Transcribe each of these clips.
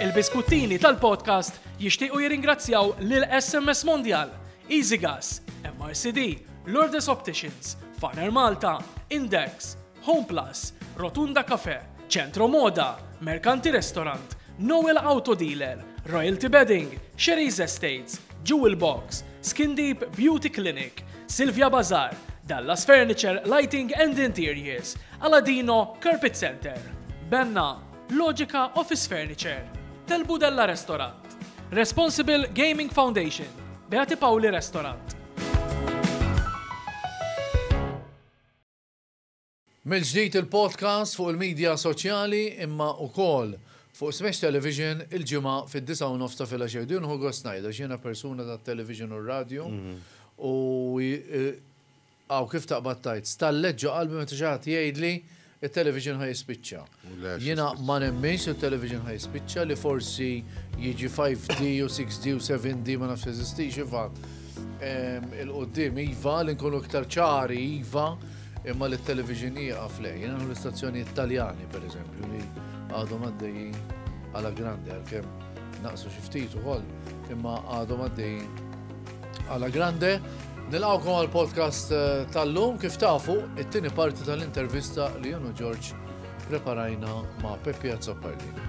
Il-biskuttini tal-podcast jixtiequ jirringrazzjaw lil SMS Mondial, Easy Gas, MRCD, Lourdes Opticians, Farner Malta, Index, Home Plus, Rotunda Cafe, Centro Moda, Mercanti Restaurant, Noel Auto Dealer, Royalty Bedding, Sherry's Estates, Jewel Box, Skin Deep Beauty Clinic, Silvia Bazar, Dallas Furniture Lighting and Interiors, Aladino Carpet Center, Benna, Logica Office Furniture, Tel Budella Restaurant, Responsible Gaming Foundation, Beati Pauli Restaurant. Mill-ġdid il-podcast fuq il-midja soċjali imma ukoll fuq Smash Television il-ġimgħa fid-disa u nofs ta' filgħaxija. Din hu gost ngħidha x'jiena persuna tat-television u r-radju mhm. u eh, Aw kif taqbad tgħid, stallet ġo qalbi meta xi ħadd jgħidli, it-television ħa jispiċċa. Jiena ma nemminx li t-television ħa jispiċċa, li forsi jiġi 5D u 6D u 7D ma nafx jeżistix, iva. Il-quddiem iva, li nkunu iktar ċari iva, imma li t-television jieqaf le. Jiena nħu l-istazzjonijiet Taljani, per eżempju, li għadhom għaddejjin għala grandi għalkemm naqsu xi ftit ukoll, imma għadhom għaddejjin Alla grande, nilqawkom għal podcast eh, tal-lum kif tafu it-tieni parti tal-intervista li jenu Ġorġ preparajna ma' Peppi Azzopardi.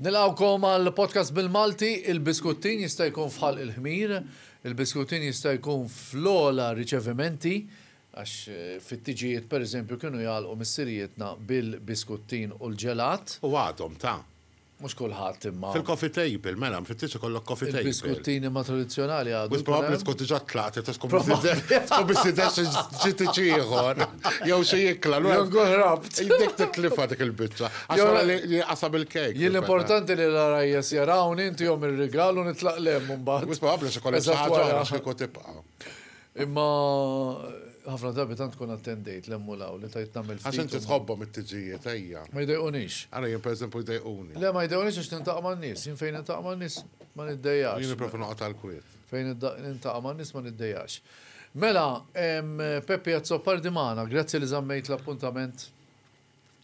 Nilqawkom għal podcast bil-Malti, il-biskuttin jista' jkun fħal il-ħmir, il-biskuttin jista' jkun fl-ola riċevimenti, għax eh, fit-tiġijiet per eżempju kienu jgħalqu missirijietna bil-biskuttin u l-ġelat. U għadhom ta' Mhux kulħadd imma. Fil-coffee table, mela, mfittix ikollok coffee table. Il-biskuttini ma tradizzjonali għadu. Wis probabbli tkun diġà tlaqt, tkun tkun biss tidher xi ġiti ċieħor. Jew xi jikla. Jew nkun ħrabt. Dik titlifa dik il-biċċa. Għax wara li qasam il-kejk. Jien l-importanti li l-għarajjes jarawni, ntihom ir-rigal u nitlaq lemm imbagħad. Wis probabbli xi kollha xi ħaġa oħra xi jkun tibqa'. Imma ħafna drabi tant tkun attendejt l-hemm u l-hawn li tgħid nagħmel ftit. Għax inti tħobbhom it-tiġijiet, ejja. Ma jdejqunix. Ara jien pereżempju jdejquni. Le ma jdejqunix għax nintaqa' man-nies. Jien fejn nintaqa' man-nies ma niddejjaqx. Jien nippreferi noqgħod għall-kwiet. Fejn nintaqa' man-nies ma niddejjaqx. Mela, Peppi Azzopardi magħna, grazzi li żammejt l-appuntament.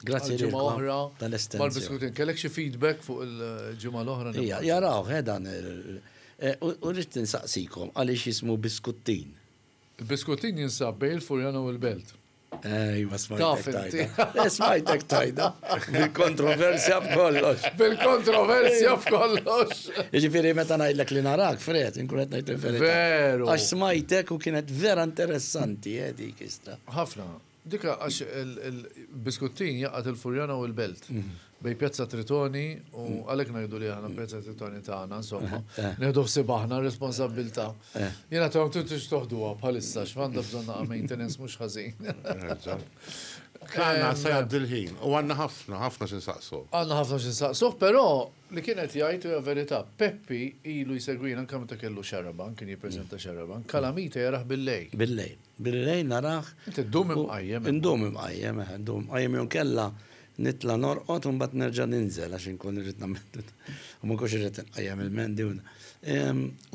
Grazzi ġimgħa oħra tal-estensjoni. Kellek xi feedback fuq il-ġimgħa l-oħra? Jaraw, ħedan. Eh, u rrid tinsaqsikom għaliex jismu biskuttin. Il-biskuttin jinsab bej il-Furjana u l-Belt. Ejwa, smajtek tajda. Eh, smajtek tajda. Bil-kontroversja f'kollox. Bil-kontroversja f'kollox. Ġifiri, meta najdlek li narak, fred, inkunet najd il-verita. Veru. Għax smajtek u kienet vera interessanti, eh, dik istra. Ħafna. Dik għax il-biskuttin jaqgħad il-Furjana u l-Belt, bejn Pjazza Tritoni u għalhekk ngħidu li aħna Pjazza Tritoni tagħna, insomma, nieħdu ħsieb aħna r-responsabbiltà. Jiena għadthom intom tridux toħduha bħalissa għax għandha bżonn naqa' maintenance mhux ħażin. Għandna se jgħaddi l-ħin u għandna ħafna, ħafna xi nsaqsuh. Għandna ħafna xi nsaqsuh, però li kien qed jgħid u hija verità, Peppi ilu jsegwina anke meta kellu Xarabank, kien jippreżenta Xarabank, Calamita jarah bil-lejl. Bil-lejl. Bil-lejl narah. Inti ddum imqajjem. Indum imqajjem, eħe, ndum imqajjem jew inkella nitla' norqod u mbagħad nerġa' ninżel għax inkun irrid nagħmel u ma nkunx irrid inqajjem il-mendi u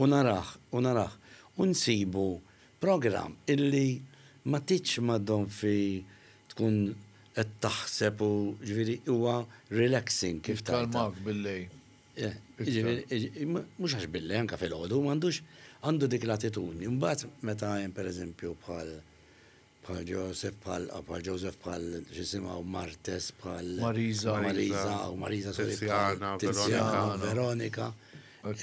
u narah, u narah. U nsibu programm illi ma tgħidx maddom fi tkun qed taħseb u ġifieri huwa relaxing kif tgħidha. Jikkalmak bil-lejl. Eh, jiġifieri, mhux għax billi anke fil-ħodu, m'għandux għandu dik l-attitudni. Mbagħad meta hemm pereżempju bħal bħal Joseph bħal bħal Joseph bħal xisimgħu Martes bħal Marisa Marisa u Marisa Tiziana Veronika Veronika.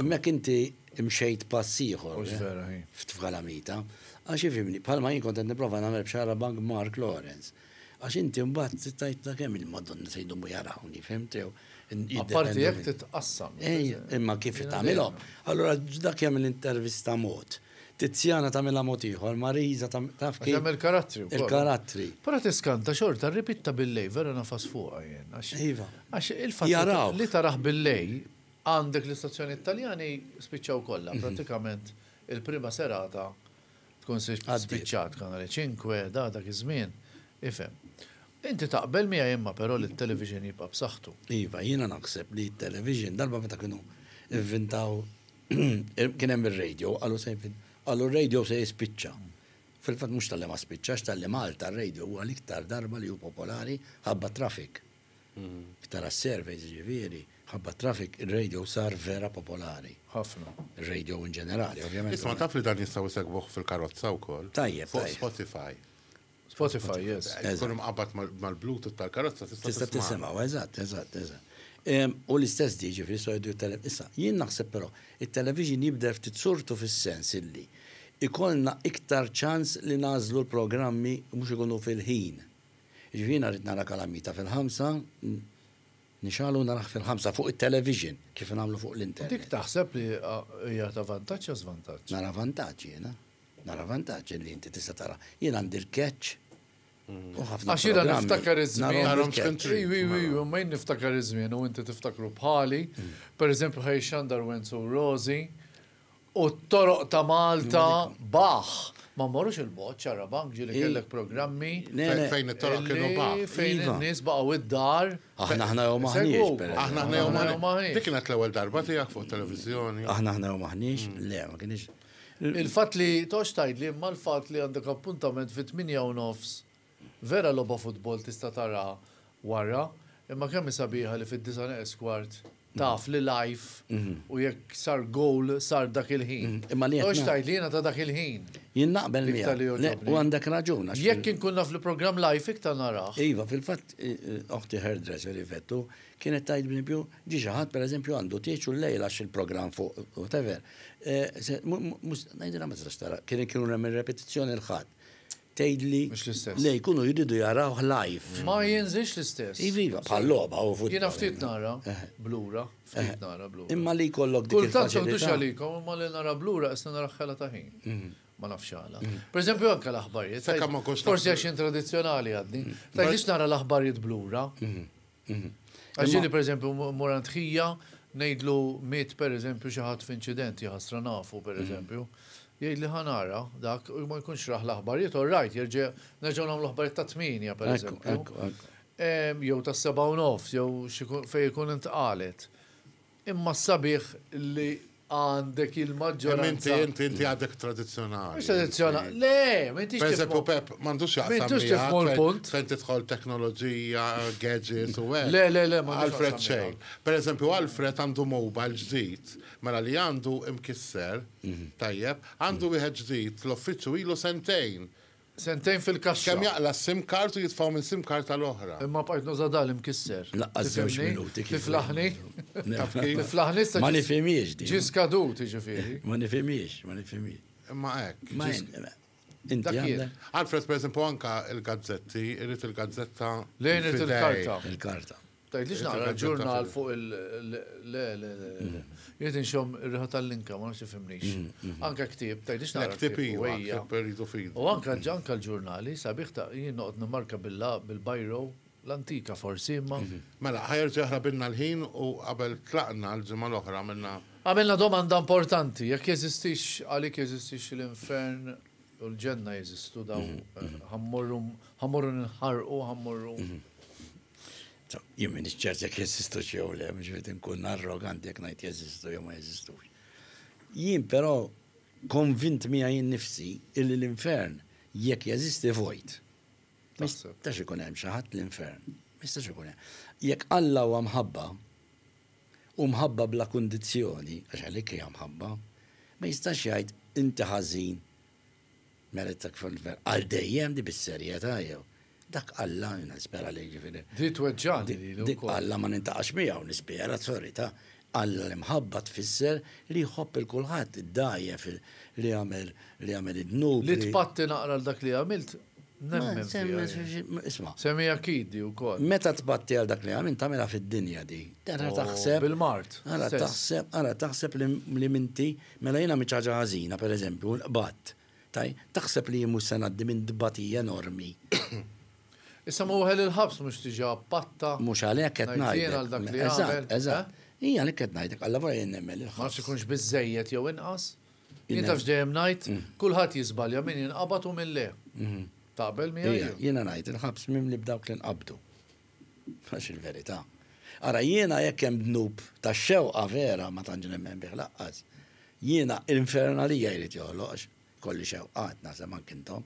Immek inti imxejt pass ieħor eh, f'tfala mita. Għax ifimni, bħalma jien kont qed nipprova nagħmel b'xara bank Mark Lawrence. Għax inti mbagħad tgħid ta' kemm il-Madonna se jdumu jarawni, fhimt jew? Apparti jekk titqassam. Ej, imma kif tagħmilhom? Allura dak jagħmel intervista mod. Tizzjana tagħmilha mod ieħor, Marisa taf kif. Jagħmel karattri wkoll. Il-karattri. Però tiskanta xorta r-ribitha bil-lejl vera nafas fuqha jien. Iva. Għax il-fatt li taraħ bil-lejl għandek l-istazzjonijiet Taljani spiċċaw kollha, prattikament il-prima serata Tkun spiċċat Kanale Cinque da dak iż-żmien, ifhem. Inti taqbel miegħi imma però li t-television jibqa' b'saħħtu. Iva, jiena naħseb li t-television, darba meta kienu inventaw, kien hemm ir-radio, qalu se, qalu r-radio se jispiċċa. Fil-fatt mhux talli ma spiċċax, talli Malta r-radio huwa l-iktar darba li hu popolari ħabba t-traffic. Tara s-surveys ġifieri, mħabba t-traffic, ir-radio sar vera popolari. Ħafna. Ir-radio in ġenerali, ovvjament. Isma' taf li dan jistgħu jsegwuh fil-karozza wkoll? Tajjeb. Fuq Spotify. Spotify, yes. Tkun imqabbad mal-Bluetooth tal-karozza tista' tisimgħu. Tista' tisimgħu, eżatt, eżatt, eżatt. U l-istess di ġifieri jistgħu jgħidu t-television. Issa, jien naħseb però, it-television jibdel ftit surtu fis-sens illi ikollna iktar ċans li nagħżlu l-programmi mhux ikunu fil-ħin. Jiġifieri jiena rrid nara Calamita fil-ħamsa, nixgħalu narah fil-ħamsa fuq it-television kif ingħamlu fuq l-internet. Dik taħseb li hija ta' vantaġġ jew żvantaġġ? Nara vantaġġ jiena. Nara vantaġġ li inti tista' tara. Jien għandi l-catch u ħafna. Għax jiena niftakar iż-żmien. Narhom x'kien trid. Iwi, iwi, iwi, imma jien niftakar iż-żmien u inti tiftakru bħali. Pereżempju ħa jixxandar Wenzu u Rożi. U t-toroq ta' Malta baħħ. Ma mmorrux il-bogħod, Ċarrabank, ġieli kellek programmi. Fejn it-toroq kienu baħħ. Fejn iva. in-nies baqgħu id-dar. Aħna aħna jew maħniex. Aħna aħna jew maħniex. Dik kienet l-ewwel darba tiegħek fuq televiżjoni. Aħna aħna jew maħniex, mm. le ma kienx. Il-fatt li tox tgħidli imma l-fatt li għandek appuntament fit-8 u nofs Vera logħba futbol tista' taraha warra, imma kemm hi sabiħa li fid-disa' neqes kwart taf li live u jekk sar gowl sar dak il-ħin. Però x'tgħid li jiena ta' dak il-ħin. Jien naqbel miegħek. L-iktar li jogħġobni. Le, u għandek raġun għax. Jekk inkun naf li programm live iktar narah. Iva, fil-fatt oħti hairdresser Yvette u kienet tgħid b'empju ġie xi ħadd pereżempju għandu tieġ u llejla għax il-programm fuq whatever. Ngħidilha ma tistax tara, kien kienu hemm ir-repetizzjoni l-Ħadd. tgħidli. Mhux l-istess. Le jkunu jridu jarawh live. Ma jinżilx l-istess. Iva, iva bħal logħba u futbol. Jiena ftit nara blura, ftit nara blura. Imma li jkollok dik il-faċilità. Kultant m'għandux għalikom imma li nara blura qisni nara ħela ta' ħin. Mhm. Ma nafx għala. Mhm. Per eżempju anke l-aħbarijiet. Forsi għax in tradizzjonali għadni. Tajlix nara l-aħbarijiet blura. Mhm. Għax ġieli pereżempju mmur għand ħija ngħidlu miet pereżempju xi ħadd f'inċident, jaħasra nafu pereżempju. Jgħidli ħa nara dak u ma jkunx raħ l-aħbarijiet, all right, jerġa' nerġgħu nagħmlu aħbarijiet ta' tmienja pereżempju. Jew tas-sebgħa u nofs, jew fejn ikun intqalet. Imma s-sabiħ li għandek il-maġġoranza. Imma inti, inti, inti għadek tradizjonali. Mux tradizjonali, le, ma intix. Per eżempju, Pep, mandux jaqsam. Intux tifmu l-punt. Fejn tidħol teknoloġija, gadgets u għed. Le, le, le, ma Alfred xejn. Per eżempju, Alfred għandu mobile ġdid, mela li għandu imkisser, mhm. tajjeb, għandu wieħed ġdid, l-offiċu ilu sentejn. Sentejn fil-kaxxa. Kemm jaqla' s-sim card u jitfgħu minn sim card għal oħra. Imma bqajt nuża dak l-imkisser. Lanqas żewġ minuti kif. Tiflaħni. Taf kif? Tiflaħni issa. Ma nifhimhiex din. Ġie skadut jiġifieri. Ma nifhimhiex, ma nifhimhiex. Imma hekk. Ma inti. Alfred pereżempju anke l-gazzetti, irid il-gazzetta. Le jrid il-karta. Il-karta. Tgħidlix naqra l-ġurnal fuq il- le, le, le, le. Jrid inxom ir-riħa tal-linka, ma nafx ifhimnix. Mm, mm, mm. Anka ktieb, tgħidlix naqra. Ktieb iwa, ktieb rridu fidi. U anka ġanka l-ġurnali, sabiħ ta' jien noqgħod nimmarka billa bil-bajro, l-antika forsi, imma. Mhm. Mela, ħajer ġeħra binna l-ħin u qabel tlaqna l-ġimgħa l-oħra minna. Għamilna domanda importanti, jekk jeżistix għalik jeżistix l-infern u l-ġenna jeżistu daw mhm, mhm. eh, ħammorru nħarqu, ħammorru. Jien minix ċert jekk jeżistu xi jew le, mhux qed inkun arroganti jekk ngħid jeżistu jew ma jeżistux. Jien però konvint miegħi jien nifsi illi l-infern jekk jeżisti vojt. Mistax ikun hemm xi ħadd l-infern. Mistax ikun hemm. Jekk Alla huwa mħabba, u mħabba bla kundizzjoni, għax għalik hija mħabba, ma jistax jgħid inti ħażin Mela dak fil-ver. Għal dejjem di bis-serjetà jew. Dak Alla jiena nispera li jiġifieri. Di tweġġagħni lili wkoll. Dik Alla ma nintaqax miegħu nispera, sorry ta. Alla l-imħabba tfisser li jħobb il kulħadd, id-dgħajjef, li jagħmel li jagħmel id-dnub. Li tpatti naqra għal dak li għamilt nemmen fiha jien. Isma'. Semmi akid di wkoll. Meta tpatti għal dak li għamilt tagħmilha fid-dinja di. Ara taħseb. Bil-mard. Ara taħseb ara taħseb li m'inti Mela jien għamilt xi ħaġa ħażina, per eżempju, u nqbadt. Tajb, taħseb li jien mhux se ngħaddi minn tbatija enormi? Issa ma weħel il-ħabs mhux diġà patta. Mhux għalhekk qed ngħidlek. Ngħid jien għal dak li għamilt. Eżatt, eżatt. Hi għalhekk qed ngħidlek, allavora jien nemmen li l-ħabs. Ma nafx ikunx biżżejjed jew inqas. Jien taf x'dejjem ngħid, kulħadd jiżbalja, min jinqabad u min le. Taqbel miegħi? Jiena ngħid, il-ħabs mimli b'dawk li nqabdu. Għax il-verità. Ara jiena jekk hemm dnub tax-xewqa vera ma tantx nemmen bih laqqas. Jiena infernalija jrid joħloq għax ikolli xewqat, naħseb anki intom,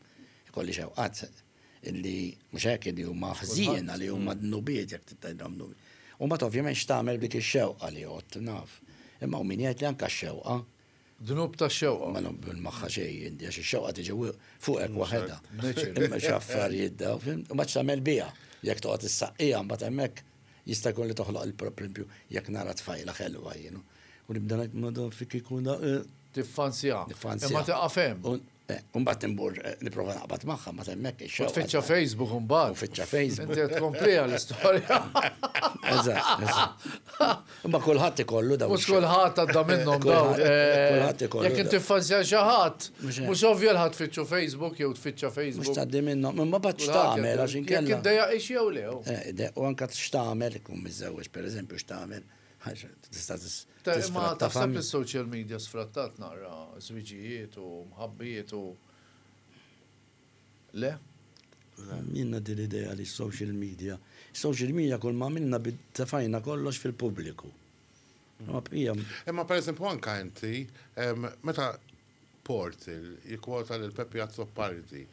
ikolli xewqat li mhux hekk li huma ħżiena li huma dnubiet jekk trid tgħidhom dnubi. U mbagħad ovvjament x'tagħmel b'dik ix-xewqa li għodt naf. Imma hawn min jgħid li anke x-xewqa Dnub ta' xewqa. Ma naqbel magħha xejn inti għax ix-xewqa tiġi fuqek waħedha. Imma xi affarijiet daw, fim, ma tagħmel biha. Jekk toqgħod issaqqiha mbagħad hemmhekk jista' jkun li toħloq il-problempju jekk nara tfajla ħelwa jien. U nibda ngħid madam fik ikun da. Tiffanzja. Tiffanzja. Imma tieqaf hemm. Eh, mbagħad imbur eh, nipprova naqbad magħha ma temmek ix Tfittxa Facebook mbagħad. Tfittxa Facebook. Inti qed kompliha l-istorja. Eżatt, eżatt. Imma kulħadd ikollu dawn. Mhux kulħadd għadda minnhom dawn. Eh, kulħadd ikollu. Jekk inti fanzja xi ħadd, mhux ovvja l-ħadd tfittxu Facebook jew tfittxa Facebook. Mhux tgħaddi minnhom, imma bad x'tagħmel għax inkella. Jekk iddejja ix jew lew. U anke x'tagħmel ikun miżewweġ pereżempju x'tagħmel. Tista' Imma taħseb li s-social media sfrattat naqra żwiġijiet u mħabbijiet u le? Minna din l-idea li social media. Social media kull ma minna tefajna kollox fil-pubbliku. Imma per eżempju anka inti, meta Portal, jikkwota lil Pepi Azzopardi.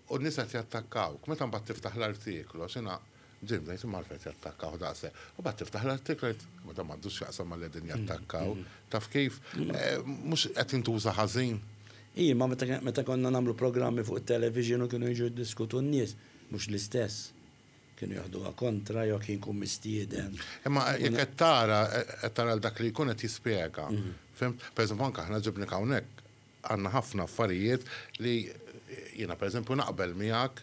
U n-nies qed jattakkawk. Meta mbagħad tiftaħ l-artiklu, jiena bdejt ngħid imma għalfejn qed jattakkawh daqshekk. U mbagħad tiftaħ l-artiklu u tgħid imma dan m'għandu x'jaqsam ma' li qegħdin jattakkaw. Taf kif? Mhux qed jintuża ħażin? Hi, imma meta konna nagħmlu programmi fuq it-television u kienu jiġu jiddiskutu n-nies, mhux l-istess. Kienu jaħduha kontra jew kien ikun mistieden. Imma jekk qed tara, qed tara lil dak li jkun qed jispjega. Fihimt? Pereżempju anke aħna ġibnek hawnhekk għandna ħafna affarijiet li jiena pereżempju naqbel miegħek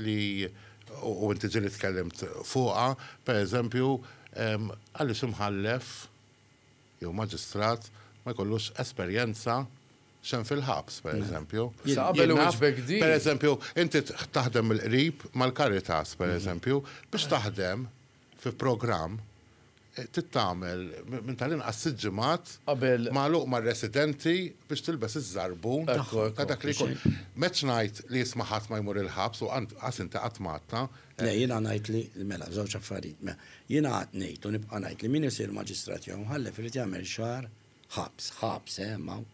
li u inti ġieli tkellimt fuqha, pereżempju għaliex imħallef jew maġistrat ma jkollux esperjenza, X'hemm fil-ħabs, pereżempju. Issa qabel inwiġbek din. Pereżempju, inti taħdem mill-qrib mal-Caritas, pereżempju, biex taħdem fi programm trid tagħmel minn tal-inqas sitt ġimgħat magħluq mar-residenti biex tilbes iż-żarbun ta' dak li jkun. M'għedtx ngħid li isma' ħadd ma jmur il-ħabs u qas inti qatt ma għadtha. Le, jiena ngħid li, mela, żewġ affarijiet. Jiena qgħadt ngħid u nibqa' ngħid li min isir maġistrat jew imħallef irid jagħmel xahar Ħabs, ħabs, eh, hemm hawn.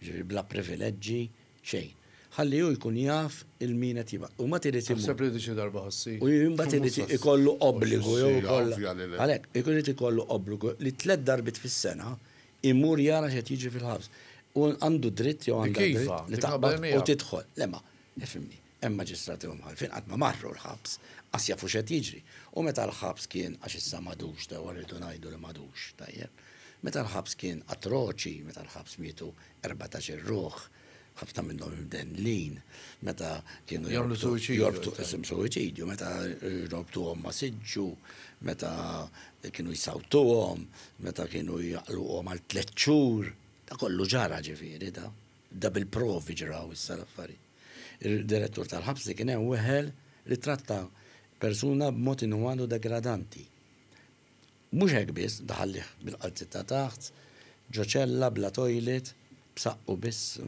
Jiġifieri bla privileġġi, xejn. Ħalli hu jkun jaf 'il min qed jibgħat. U mbagħad irid imur. Taħseb li diġi darba ħassih. U mbagħad irid ikollu obbligu jew ikollha. Għalhekk, jekk irid ikollu obbligu li tliet darbiet fis-sena imur jara x'qed jiġri fil-ħabs. U għandu dritt jew għandha dritt li taqbad u tidħol. Le ma, ifhimni. Hemm maġistrati u mħallfin qatt ma marru l-ħabs, qas jafu x'qed jiġri. U meta l-ħabs kien, għax issa m'għadux, dewwa rridu ngħidu li m'għadux, tajjeb. Meta l-ħabs kien atroċi, meta l-ħabs mietu erbatax-il ruħ, ħafna minnhom imdendlin, meta kienu Jagħmlu suwiċidju. jorbtu isim suwiċidju, meta jrorbtuhom ma' siġġu, meta kienu jsawtuhom, meta kienu jaqluhom għal tliet xhur, da kollu ġara ġifieri da. Dabilprovi ġraw issa l-affarijiet. Id-Direttur tal-Ħabs li kien hemm weħel li ttratta persuna b'mod inumanu degradanti. Mhux hekk biss, daħallih bil-qalziet ta' taħt, ġo ċella bla toilet, b'saqqu biss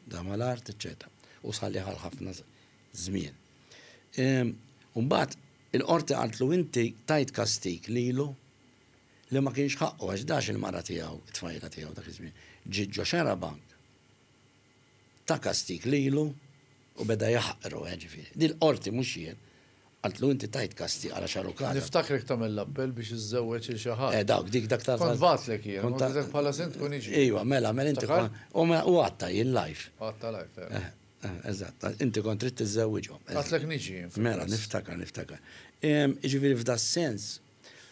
da mal-art, eċċetera U sħallih għal ħafna żmien. U mbagħad il-Qorti qaltlu inti tajt kastig lilu li ma kienx ħaqqu għax dax il-mara tiegħu, it-tfajla tiegħu dak iż-żmien, ġiet ġo xarabank, ta kastig lilu u beda jaħqru, eh, ġifieri. Din l-qorti mhux jien, qaltlu inti tajt kastig għal xarukata. Niftakrek tagħmel l-appell biex iżżewweġ il xi ħadd. Eh, dawk, dik dak ta' Kont bagħtlek jien, kont għidlek bħala sindku niġi. Iva, mela, mela inti kont. U mela, u għatta jien live. Għatta live, eh. eh. Eh, eżatt, inti kont trid tiżżewwiġhom. Għatlek niġi. Mela, niftakar, niftakar. Ġifieri f'da sens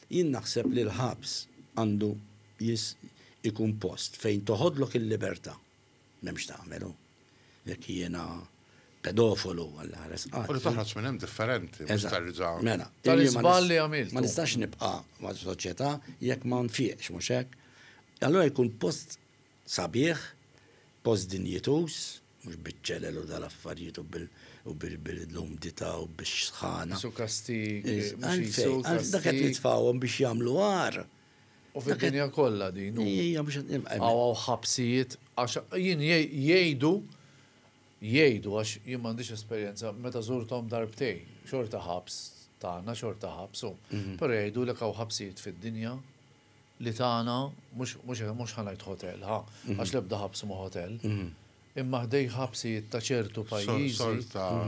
Jien naħseb li l-ħabs għandu jis ikun post fejn toħodlok il-libertà. M'hemm x'tagħmel hu. Jekk jiena pedofolu Alla ħares qalbi. U li toħroġ minn hemm differenti mhux terġa'. Mela. Tal-iżball li għamilt. Ma nistax nibqa' ma' soċjetà jekk ma nfiqx mhux hekk? Allura jkun post sabiħ, post dinjituż, mhux biċ-ċelel u dal-affarijiet u bil-umdità u bix-xħana. Qisu kastig, mhux qisu kastig. Dak qed nitfgħuhom biex jagħmlu għar. U fid-dinja kollha din. Hija mhux qed nibqa'. Hawn hawn ħabsijiet għax jien jgħidu jgħidu għax jien m'għandix esperjenza meta żurthom darbtejn, xorta ħabs tagħna, xorta ħabs hu. Però jgħidulek hawn ħabsijiet fid-dinja li tagħna, mhux ħa ngħid ħotel, ħa, għax l-ebda ħabs mhu ħotel, imma ħdejn ħabsijiet ta' ċertu pajjiżi.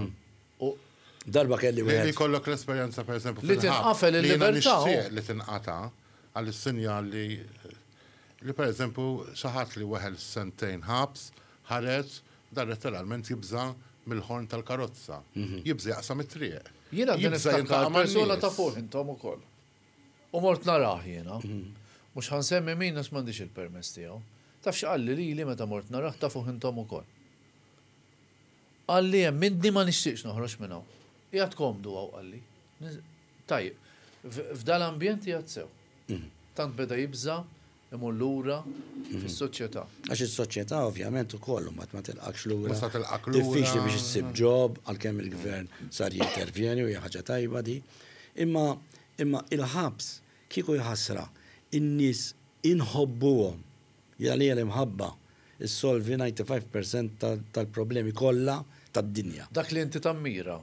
Darba kelli wieħed. Li jkollok l-esperjenza pereżempju fil-ħabs. Li tinqafel il-libertà. Li tinqata' għall-sinjal li li pereżempju xi ħadd li weħel sentejn ħabs ħareġ dan letteralment jibża' mill-ħorn tal-karozza. Jibża' jaqsam it-triq. Jiena niftakar persuna ta' fuq intom ukoll. U mort narah jiena. Mhux ħa nsemmi min għax m'għandix il-permess tiegħu. Taf x'qalli lili meta mort narah tafuh intom ukoll. Qalli hemm inni ma nixtieqx noħroġ minn hawn. Qiegħed komdu hawn qalli. Tajjeb. F'dal-ambjent qiegħed sew. Tant beda jibża' imur lura fis-soċjetà. Għax is-soċjetà ovvjament ukoll u mat ma tilqakx lura. Mhux tilqak lura. Diffiċli biex issib ġob għalkemm il-gvern sar jintervjeni u hija ħaġa tajba di. Imma imma il-ħabs kieku jħassra in-nies inħobbuhom. Jiena għalija l-imħabba ssolvi 95% tal-problemi kollha tad-dinja. Dak li inti tammira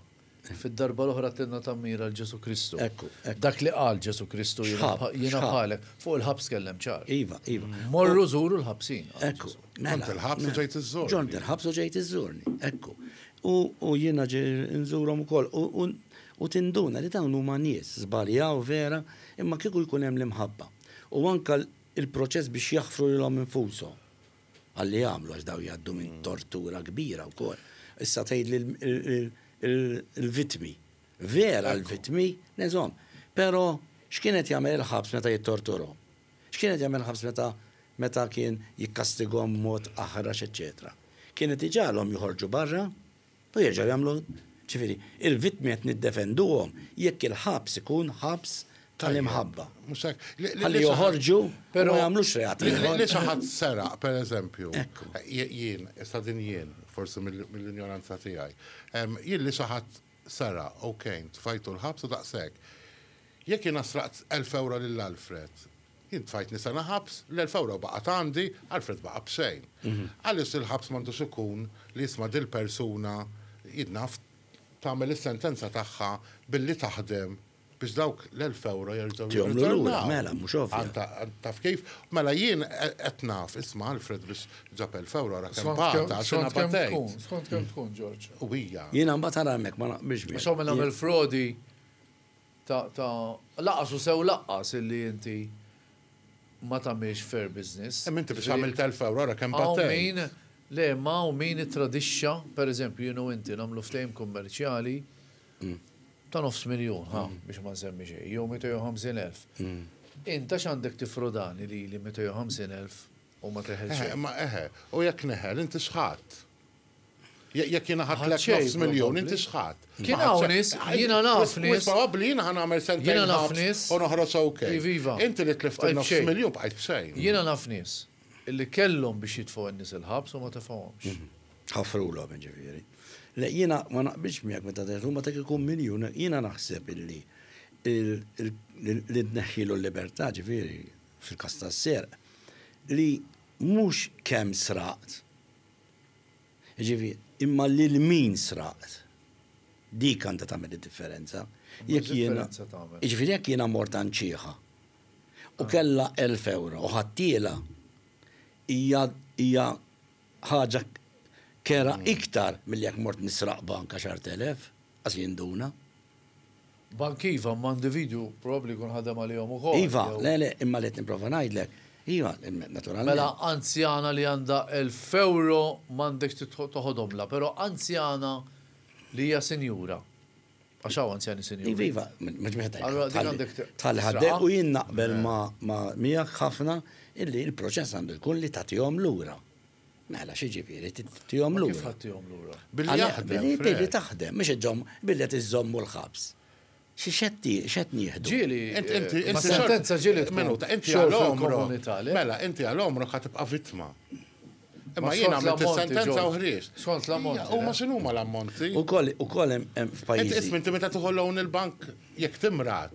Fid-darba l-oħra tenna tammira 'l Ġesù Kristu. Ekku, ekku. Dak li qal Ġesù Kristu, Jiena X'ħabb, bħa- jiena x'ħabb. bħalek. Fuq il-ħabs tkellem ċar. Iva, iva. Morru żuru l-ħabsin. qal Ekku. Ġesù. mela, Ġont il-ħabs u mela. ġejt iżżurni. Ġont il-ħabs u ġejt iżżurni. Ekku. U, u jiena ġej nżurhom ukoll. U, u, u tinduna li dawn huma nies, żbaljaw vera, imma kieku jkun hemm l-imħabba. U anke l- il-proċess biex jaħfru lilhom infushom. Għalli jagħmlu għax daw jgħaddu minn tortura kbira wkoll. Issa tgħid l-vittmi. Vera l-vittmi, neżhom. Però x'kienet jagħmel il-ħabs meta jittorturhom? X'kienet jagħmel il-ħabs meta meta kien jikkastigom mod aħrax eċċetera. Kienet iġagħalhom joħorġu barra, U jerġgħu jagħmlu Ġifieri, il-vittmi qed niddefenduhom jekk il-ħabs ikun ħabs tal-imħabba. Mhux hekk. Ħalli joħorġu u ma jagħmlux reat ieħor. Li xi ħadd seraq, pereżempju, jien, issa din jien, forsi mill-injoranza tiegħi, jien li xi ħadd seraq, ok, tfajtu l-ħabs u daqshekk. Jekk jiena sraqt 1000 ewro lil Alfred, Jien tfajtni sena ħabs, l-elf ewro baqgħet għandi, Alfred baqa' b'xejn. Għaliex il-ħabs m'għandux ikun li isma' dil-persuna, jien naf, tagħmel is-sentenza tagħha billi taħdem biex dawk l-elf ewro jerġgħu jirritornaw. Taf kif? Mela jien qed naf, isma' Alfred biex ġab elf ewro ara kemm bata għax jiena batejt. Skont kemm tkun, George. U hija. Jiena mbagħad ara hemmhekk ma naqbilx miegħek. Għax hawn min għamel frodi. ta' ta' laqqas u sew laqqas illi inti ma tagħmilx fair business. Imma inti biex għamilt elf ewro ara kemm battejt. Hawn min, le imma hawn min ittradixxa, per eżempju jien u inti nagħmlu ftehim kummerċjali ta' nofs miljun, ħa, biex ma nsemmi xejn, jew 250 elf. Int għax għandek tiffrodani lili 250 elf u ma teħel xejn. Eħe, imma eħe, u jekk neħel inti x'ħadt? Jekk jiena ħadtlek nofs miljun, inti x'ħadt? Kien hawn nies, jiena naf nies. Wis probabbli jiena ħa nagħmel sentejn ħabs u noħroġ OK. Inti li tlift in-nofs miljun bqajt b'xejn. Jiena naf nies li kellhom biex jitfgħu n-nies il-ħabs u ma tefgħuhomx. Ħafrulhom jiġifieri. Le jiena ma naqbilx miegħek meta tgħid huma ta' kieku miljun, jiena naħseb illi li tneħħilu l-libertà ġifieri fil-każ tas-serq li mhux kemm sraqt, Jiġifieri, imma lil min sraqt. Dik għandha tagħmel id-differenza. Jekk jiena, jiġifieri jekk jiena mort għand xiħa u kellha elf ewro u ħadtielha, hija hija ħaġa kerha iktar milli jekk mort nisraq bank għaxart elef, qas jinduna. Bank iva, imma individwu probabbli jkun ħadem għalihom ukoll. Iva, le, le, imma li qed nipprova ngħidlek, iva, naturalment. Mela anzjana li għandha elf ewro m'għandekx toħodhomlha, però anzjana li hija sinjura, għax hawn anzjani sinjuri. Iva, iva, mhux wieħed jgħid. Tħalli ħaddejk u jien naqbel miegħek ħafna illi l-proċess għandu jkun li tagħtihom lura. Mela, xi ġifieri, tihom lura. Kif ħadd tihom lura? Billi jaħdem. Billi taħdem, mhux iżomm, billi qed iżommu l-ħabs. Xi xed nieħdu? Ġieli, sentenza ġieli minuta, inti għal omru. Mela, inti għal omru ħa tibqa' vittma. Imma jien għamilt sentenza u ħriex. Skont l-ammonti. U ma x'inhu ma l-ammonti? U koll hemm f'pajjiż. Inti ismi inti meta tieħu loan il-bank jekk timrat.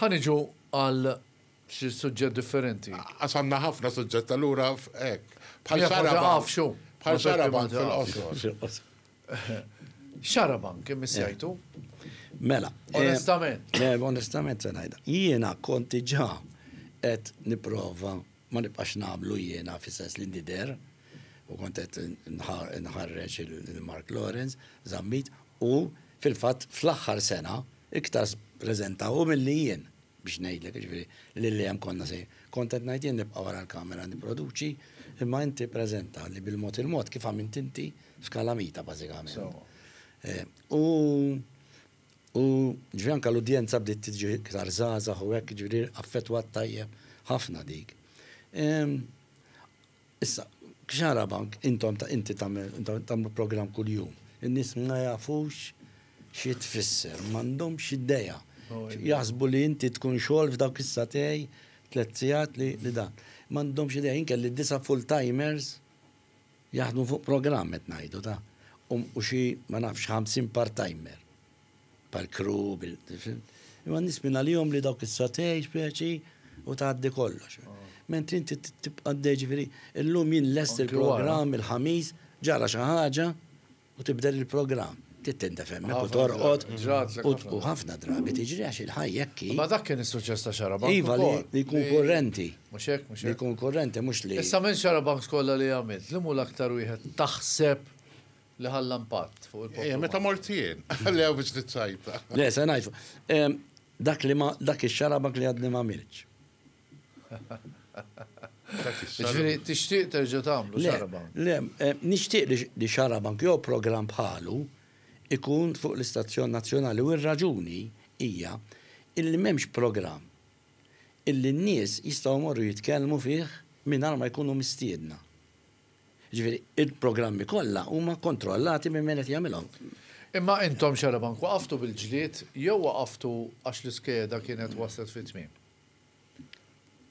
Ħa niġu għal xi suġġett differenti. Għax għandna ħafna suġġett allura hekk. Bħal xarabank. Bħal xarabank fil-qosor. Xarabank imissejtu. Mela. Eh, onestament. Eh, onestament se ngħidha. Jiena konti ġa qed nipprova ma nibqax nagħmlu jiena fis-sens li nider u kont qed nħarreġ il-Mark Lawrence, Zammit u fil-fatt fl-aħħar sena Iktar spreżenta hu milli jien, biex ngħidlek, jiġifieri li li hemm konna se. Kont qed ngħid jien nibqa' wara l-kamera nipproduċi, imma inti ppreżenta li bil-mod il-mod kif għamilt inti f'Kalamita bażikament. U u ġifieri anke l-udjenza bdiet tiġi iktar żgħażagħ u hekk, jiġifieri affettwat tajjeb ħafna dik. Issa, x'arabank intom ta' inti tagħmel, intom tagħmlu programm kuljum. In-nies ma jafux xi tfisser, m'għandhomx idea. Jaħsbu li inti tkun xogħol f'dawk is-satej tliet sigħat li dan. M'għandhomx idea, jien kelli disa' full timers jaħdmu fuq programm qed ngħidu ta', u xi ma nafx 50 part timer. Bħall-kru, imma n-nies minn għalihom li dawk is-sotej speċi u tgħaddi kollox. Mentri inti tibqa' għaddej ġifieri, illum jien lest il-programm il-ħamis ġara xi ħaġa u tibdel il-programm. Tittindef hemmhekk u torqod. U ħafna drabi tiġri għax il-ħajja hekk. Ma dak kien is-suċċess ta' xaraba. Iva li jkun kurrenti. Mhux hekk, mhux hekk. Li jkun kurrenti mhux li. Issa minn xarabanks kollha li għamilt, li mhu l-aktar wieħed taħseb Li ħalla impatt fuq il-poplu. Ejja, meta mort jien, li hawn biex niċċajta. Le, se ngħid. Dak li ma dak ix-xarabak li għadni ma milx. Ġifieri tixtieq terġa' tagħmlu xarabank? Le, nixtieq li xarabank jew programm bħalu ikun fuq l-istazzjon nazzjonali u r-raġuni hija illi m'hemmx programm illi n-nies jistgħu jmorru jitkellmu fih mingħajr ma jkunu mistiedna. Jiġifieri, il-programmi kollha huma kontrollati minn min qed jagħmilhom. Imma intom Xarabank waqaftu bil-ġlied jew waqaftu għax l-iskeda kienet waslet fit-tmiem?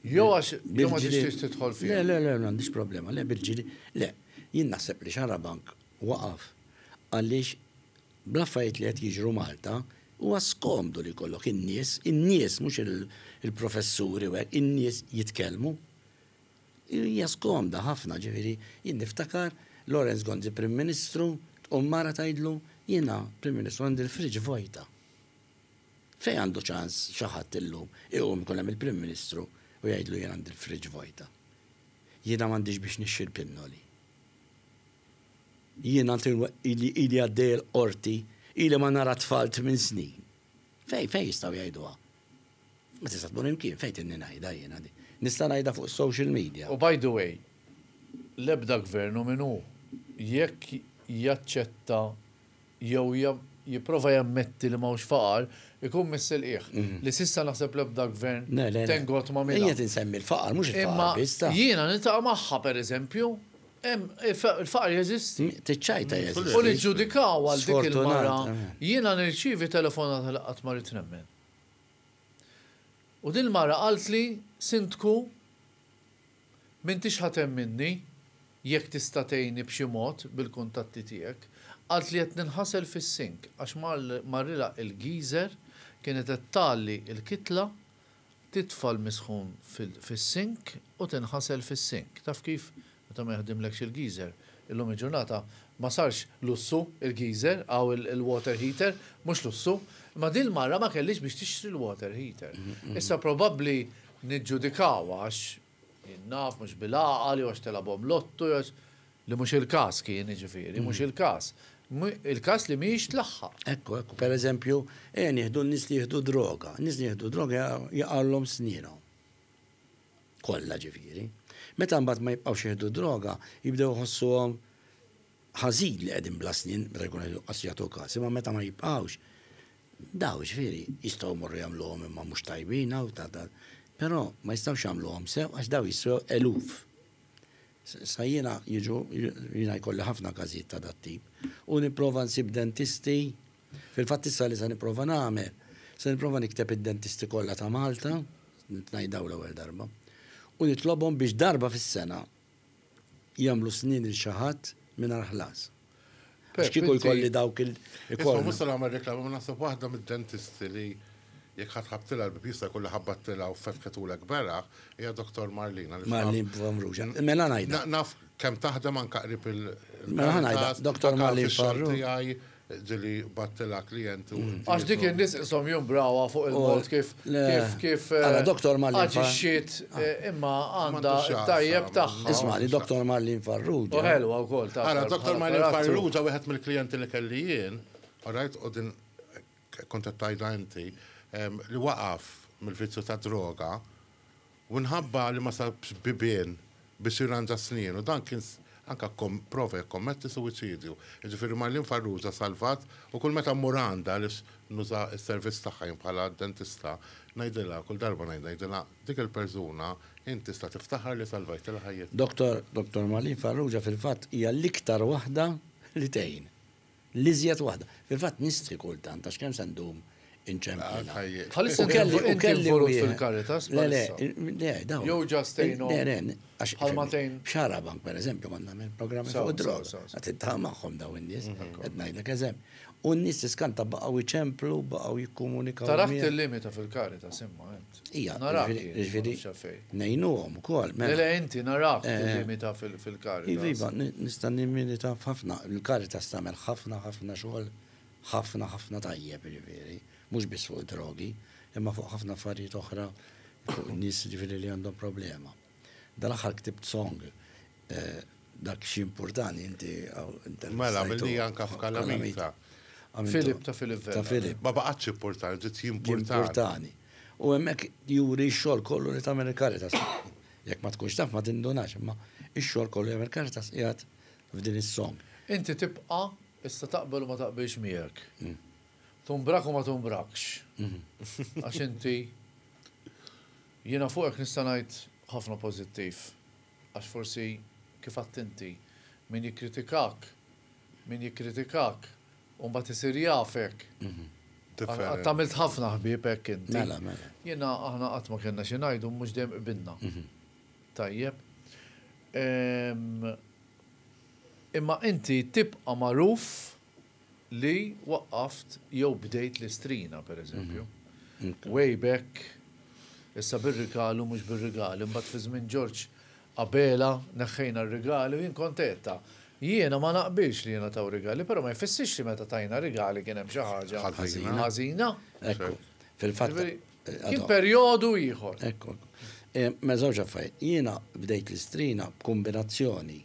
Jew għax jew ma tixtieqx tidħol fiha? Le, le, le, m'għandix problema, le bil-ġlied, le. Jien naħseb li Xarabank waqaf għaliex bl-affarijiet li qed jiġru Malta huwa skomdu li jkollok in-nies, in-nies mhux il-professuri u hekk, in-nies jitkellmu. Hija skomda ħafna, ġifieri jien niftakar Lawrence Gonzi Prim Ministru, tqum mara tgħidlu, jiena Prim Ministru għandi l-fridge vojta. Fejn għandu ċans xi ħadd illum iqum ikun hemm il-Prim Ministru u jgħidlu jien għandi l-fridge vojta. Jiena m'għandix biex nixtri l-pinnoli. Jiena ili għaddej il-qorti, ili ma nara t-tfal tmien snin. Fejn fejn jistgħu jgħiduha? Ma tista' tmur imkien fejn tinni ngħidha jiena di. Nista' ngħidha fuq is-social media. U by the way, l-ebda gvern hu min hu, jekk jaċċetta jew jipprova jammetti li m'hawnx faqar, ikun mis-silqiegħ. Li s'issa naħseb l-ebda gvern thank God m'għamilha. Le, le. Qiegħed insemmi l-faqar, mhux il-faqar biss. Imma jiena niltaqa' magħha, pereżempju, Il-faqar jeżisti. Tiċċajta jeżisti. U niġġudikaw għal dik il-mara. Jiena nirċievi telefonata li qatt ma ridt nemmen. U din il-mara qaltli, Sindku, m'intix ħa temminni, jekk tista' tgħinni b'xi mod bil-kuntatti tiegħek. Qaltli qed ninħasel fis-sink għax marrilha il-geyser kienet qed tgħalli l-kitla Titfa' l-misħun fis-sink u tinħasel fis-sink. Taf kif? Meta ma jaħdimlekx il-geyser. Illum il-ġurnata ma sarx lussu il-geyser, hawn il-water heater, mhux lussu. Imma din il-mara ma kellhiex biex tixtri l-water heater. Issa probabbli niġġudikawha għax Jien naf, mhux bil-għaqal, jew għax tilgħabhom lotto, jew għax. Li mhux il-każ kien, jiġifieri, mhux il-każ. Il-każ li mhijiex tlaħħaq. Ekku, ekku. Per eżempju, ejja nieħdu n-nies li jieħdu droga. N-nies li jieħdu droga jaqgħulhom snienhom. Kollha, ġifieri. Meta mbagħad ma jibqgħux jieħdu droga, jibdew iħossuhom ħażin li qegħdin bla snien, meta jkun qed inqas jagħtu każ. Imma meta ma jibqgħux, Daw, ġifieri, jistgħu jmorru jagħmluhom imma mhux tajbin hawn ta' dan. Però ma jistgħux jagħmluhom sew għax daw jistgħu eluf. Sa jiena jiġu, jiena jkolli ħafna każijiet ta' dat-tip. U nipprova nsib dentisti, fil-fatt issa li se nipprova nagħmel, se nipprova nikteb id-dentisti kollha ta' Malta, nitnajdaw l-ewwel darba, u nitlobhom biex darba fis-sena, jagħmlu snin il xi ħadd mingħajr ħlas. Għax kieku jkolli dawk il Isma' mhux se nagħmel reklama, ma naħseb waħda mid-dentisti li jekk ħadd ħabtilha l-bib jista' jkun li ħabbattilha u fetħitulek beraħ hija Doktor Marlina. Marlin Famruġa. Mela ngħidha. Naf kemm taħdem anke qrib il Mela ngħidha Doktor Marlin Famruġa. Ġili battila klient u. Għax dik in-nies qishom jumbrawa fuq il-mod kif kif kif. Għala Doktor Malin. Aġixxiet imma għandha tajjeb tagħha. Isma' li Doktor Malin Farrugia. U ħelwa wkoll tagħha. Għala Doktor Malin Farrugia wieħed mill-klijenti li kelli jien, all right, u din kont qed tgħidha inti, li waqaf mill-vizzju tad-droga Minħabba li ma sabx bibien biex jirranġa snienu, dan kien anke pprova jikkommetti suwiċidju. Jiġifieri Marlene Farrugia salvat u kull meta mmur għandha għaliex nuża s-servizz tagħha jien bħala dentista, ngħidilha, kull darba ngħid, ngħidilha, dik il-persuna int tista' tiftaħar li salvajtilha ħajjitha. Dottor Marlene Farrugia fil-fatt hija l-iktar waħda li tgħin. L-iżjed waħda. Fil-fatt nistħi kultant għax kemm se ndum inċemplilha. Bħalissa inti involut fil-Caritas bħalissa? Le, le. Jew ġast tgħinhom? Le, le. Bħal ma tgħin. Xarabank pereżempju kont nagħmel programmi fuq id-droga. Qed intagħam magħhom dawn in-nies. Qed ngħidlek eżempju. U n-nies tiskanta baqgħu jċemplu, baqgħu jikkomunikaw. Taraħ tillimita fil-Caritas imma, eh. Ija, ġviri, nejnuhom ukoll. Mela. Le, le, inti narak tilimita eh, fil-karita. Iva, iva nista' nimilita f'ħafna, il-karita stamel ħafna, ħafna xogħol, ħafna, ħafna tajjeb, ġviri, mhux biss fuq drogi, imma fuq ħafna affarijiet oħra, fuq nies ġviri li għandhom problema. Dal-aħħar ktibt song dak xi mpurtani inti intervistajtu. Mela, għamilni anke f'Kalamita. Filip ta' Filip Vella. Ta' Filip. Ma baqgħetx mpurtani, bdiet jimpurtani. Jimpurtani. U hemmhekk juri x-xogħol kollu li tagħmel il-Caritas. Jekk ma tkunx taf ma tindunax, imma x-xogħol kollu li jagħmel il-Caritas qiegħed f'din is-song. Inti tibqa', issa taqbel u ma taqbilx miegħek. Tumbrak u ma tumbrakx. Għax inti. Jiena fuqek nista' ngħid ħafna pożittiv għax forsi kif għedt inti, min jikkritikak, min jikkritikak u mbagħad isir jafek. Għadt għamilt ħafna ħbieb hekk inti. Mela, mela. Jiena aħna qatt ma kellna xi ngħidu mhux dejjem qbilna. Tajjeb. Imma inti tibqa' magħruf li waqqaft jew bdejt l-istrina, pereżempju. Way back, issa bir-rigal u mhux bir-rigal, imbagħad fi żmien Ġorġ Abela neħħejna r-rigali u jien kont għedtha. Jiena ma naqbilx li jingħataw rigali, però ma jfissirx li meta tajna rigali kien hemm xi ħaġa ħażina. Kien perjodu ieħor. Mela żewġ affarijiet. Jiena bdejt l-istrina b'kumbinazzjoni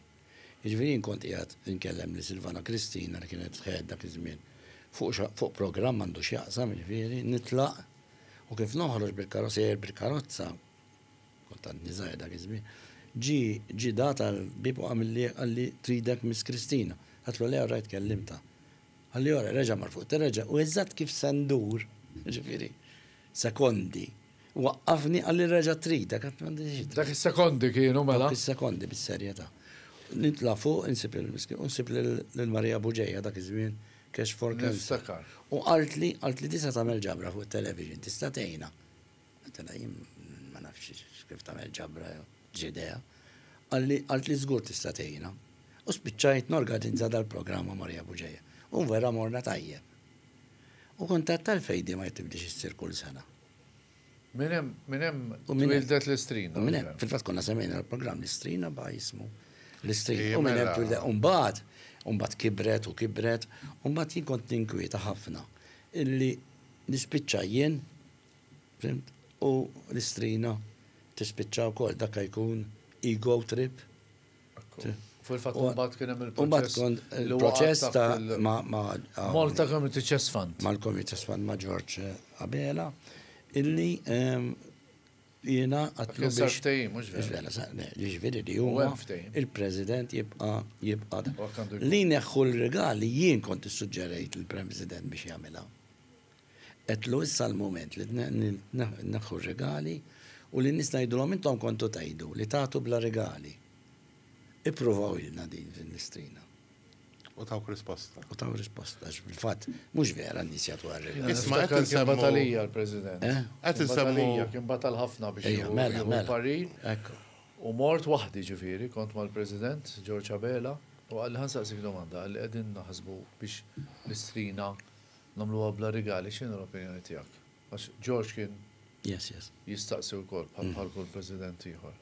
Jiġifieri jien kont qiegħed inkellem lil Silvana Cristina li kienet f'ħajjat dak iż-żmien fuq programm m'għandu x'jaqsam, jiġifieri nitlaq u kif noħroġ bil-karozza, sejjer bil-karozza, kont għadni żgħir dak iż-żmien, ġie ġie dat għall-bieb u għamilli qalli tridek Miss Cristina. Għedtlu le orajt kellimtha. Qalli orajt, reġa' mar fuq it-tele reġa' u eżatt kif se ndur, jiġifieri sekondi, Waqqafni għalli reġa' trid, dak qatt m'għandi xi. Dak is-sekondi kienu mela. Dak is-sekondi bis-serjetà. Nitla' fuq, insib lil Miskin u nsib lil Marija Buġeja dak iż-żmien Cash for Cancer. Niftakar. U qaltli, qaltli tista' tagħmel ġabra fuq it-television, tista' tgħinha. Għedtilha jien ma nafx kif tagħmel ġabra jew x'idea. Qalli, qaltli żgur tista' tgħinha. U spiċċajt norgadinza dal-programm ma' Marija Buġeja. U vera morna tajjeb. U kuntatt tal-fejdi ma jitibdiex issir kull sena. Minn hemm, minn hemm twildet l-istrina. Minn hemm, fil-fatt konna semmejna l-programm l-istrina ba' jismu. L-istrina. U minn hemm twildet. U mbagħad, u mbagħad kibret u kibret, u mbagħad jien kont ninkwieta ħafna illi nispiċċa jien, fimt, u l-istrina tispiċċa wkoll. Dak jkun ego trip. Fil-fatt mbagħad kien hemm il-proċess. Il-proċess ta' ma' ah, Malta Community Chess Fund. Mal-Community Chess Fund ma' George eh, Abela illi ehm, jiena għatlu biex. mhux vera. Ġifieri li huwa il-President jibqa' jibqa' li neħħu l-regali jien kont issuġġerejt il-President biex jagħmilha. Għedtlu, Issa l-mument li tneħħu r-rigali u lin-nies tgħidulhom intom kontu tgħidu li tagħtu bla rigali. Ippruvawilna din fil-Mistrina. U tawk risposta. U tawk risposta, għax fil-fatt mhux vera n-nies jagħtu għar-rigali. Isma' qed insemmu. Kien batal hija l-President. Eh? Qed insemmu. Batal hija, kien batal ħafna biex jieħu. Mela, mela. Jieħu parir. Ekku. U mort waħdi ġifieri, kont mal-President George Abela u qalli ħa nsaqsik domanda, qalli qegħdin naħsbu biex Mistrina Nagħmluha bla rigali x'inhi l-opinjoni tiegħek? Għax George kien jistaqsi wkoll bħal kull President ieħor.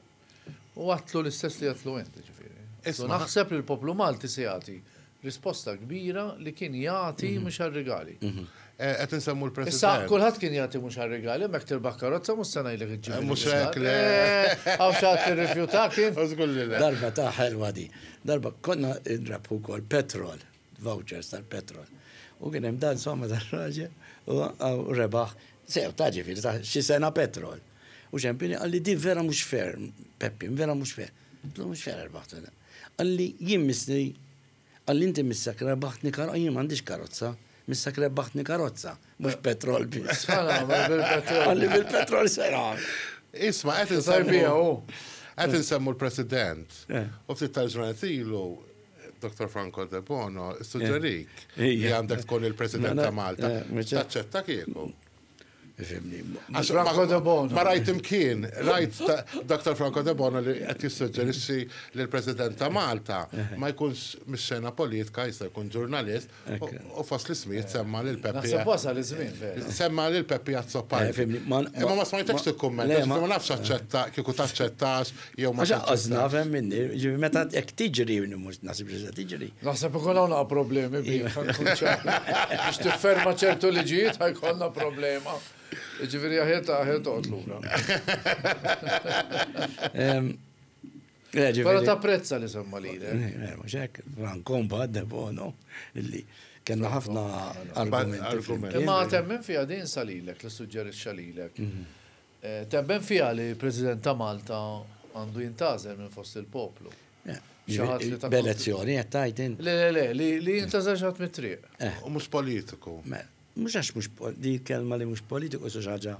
U għatlu l-istess li għatlu int, ġifieri. Issa naħseb li l-poplu Malti se jagħti risposta kbira li kien jagħti mhm. mhux għar-rigali. Mhm. Eh, qed insemmu l-President. Issa kulħadd kien jagħti mhux għar-rigali, hemmhekk tirbaħ karozza mhux se ngħidlek iġġib. Eh, mhux hekk le. Eh, għaw xatt tirrifjutak kien. Darba ta' ħelwa di. Darba konna ndrabħu wkoll petrol. vouchers tal-petrol. U kien hemm dan somma tal-raġel u rebaħ sew ta' ġifieri ta' xi sena petrol. U ċempini għalli di vera mhux fer, Peppi, vera mhux fer. Tlu mhux fer erbaħtu. Għalli jien misni, għalli inti missak rebaħtni karozza, jien m'għandix karozza, missak rebaħtni karozza, mhux petrol biss. Għalli bil-petrol sera. Isma' qed insarbija u qed insemmu l-President. Eh. U ftit tal-ġranet ilu Dr. Franco Debono, suġġerik eh, li għandek tkun il-President ta' Malta. Eh, Taċċetta kieku. Franco De Bono. Ma rajt imkien, rajt Dr. Franco De Bono li qed jissuġġerixxi li l-President ta' Malta ma jkunx mis-xena politika jista' jkun ġurnalist U fost l-ismijiet semma lil Peppi. Naħseb wasal iż-żmien vera. Semma lil Peppi Azzopar. Eh, ma ma smajtekx tikkumment, ma nafx aċċetta kieku taċċettax jew ma taċċettax. Naf hemm minni, ġifi meta jekk tiġri mhux naħseb li se tiġri. Naħseb ikun hawn problemi bih. Biex tifferma ċertu liġijiet ħajkollna problema. Ġifieri aħet aħet toqgħod lura. Pero ta' prezza li semma li. Muxek, rankom ba' debono, illi kena ħafna argumenti. Ma' temmen fija din salilek, li suġġerit xalilek. Temmen fija li President ta' Malta għandu jintazel minn fost il-poplu. B'elezzjoni, jettajt in. Le, le, le, li jintazel xaħat mit-triq. U mux politiku. Mhux għax mhux di kelma li mhux politiku xi ħaġa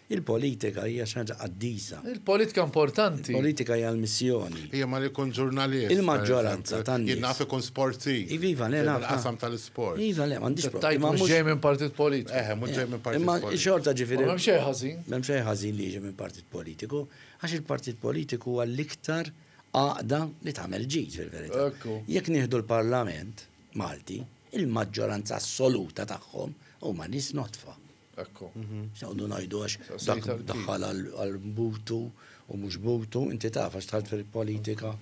il-politika hija xi ħaġa qaddisa. Il-politika importanti. Il-politika hija l-missjoni. Hija ma jkun ġurnalist. Il-maġġoranza tan-nies. Jien naf ikun sportiv. Iva, iva, le naf. Il-qasam tal-isport. Iva, le, m'għandix problema. Tajt mhux ġej minn partit politiku. Eħe, mhux ġej minn partit politiku. Imma xorta ġifieri. M'hemm xejn ħażin. M'hemm xejn ħażin li jiġi minn partit politiku, għax il-partit politiku huwa l-iktar għaqda li tagħmel ġid fil-verità. Jekk nieħdu l-Parlament, Malti, il-maġġoranza assoluta tagħhom huma nies nodfa. Ekku. X'noqogħdu ngħidu għax dak daħħal għal butu u mhux butu, inti taf għax tħalt fil-politika.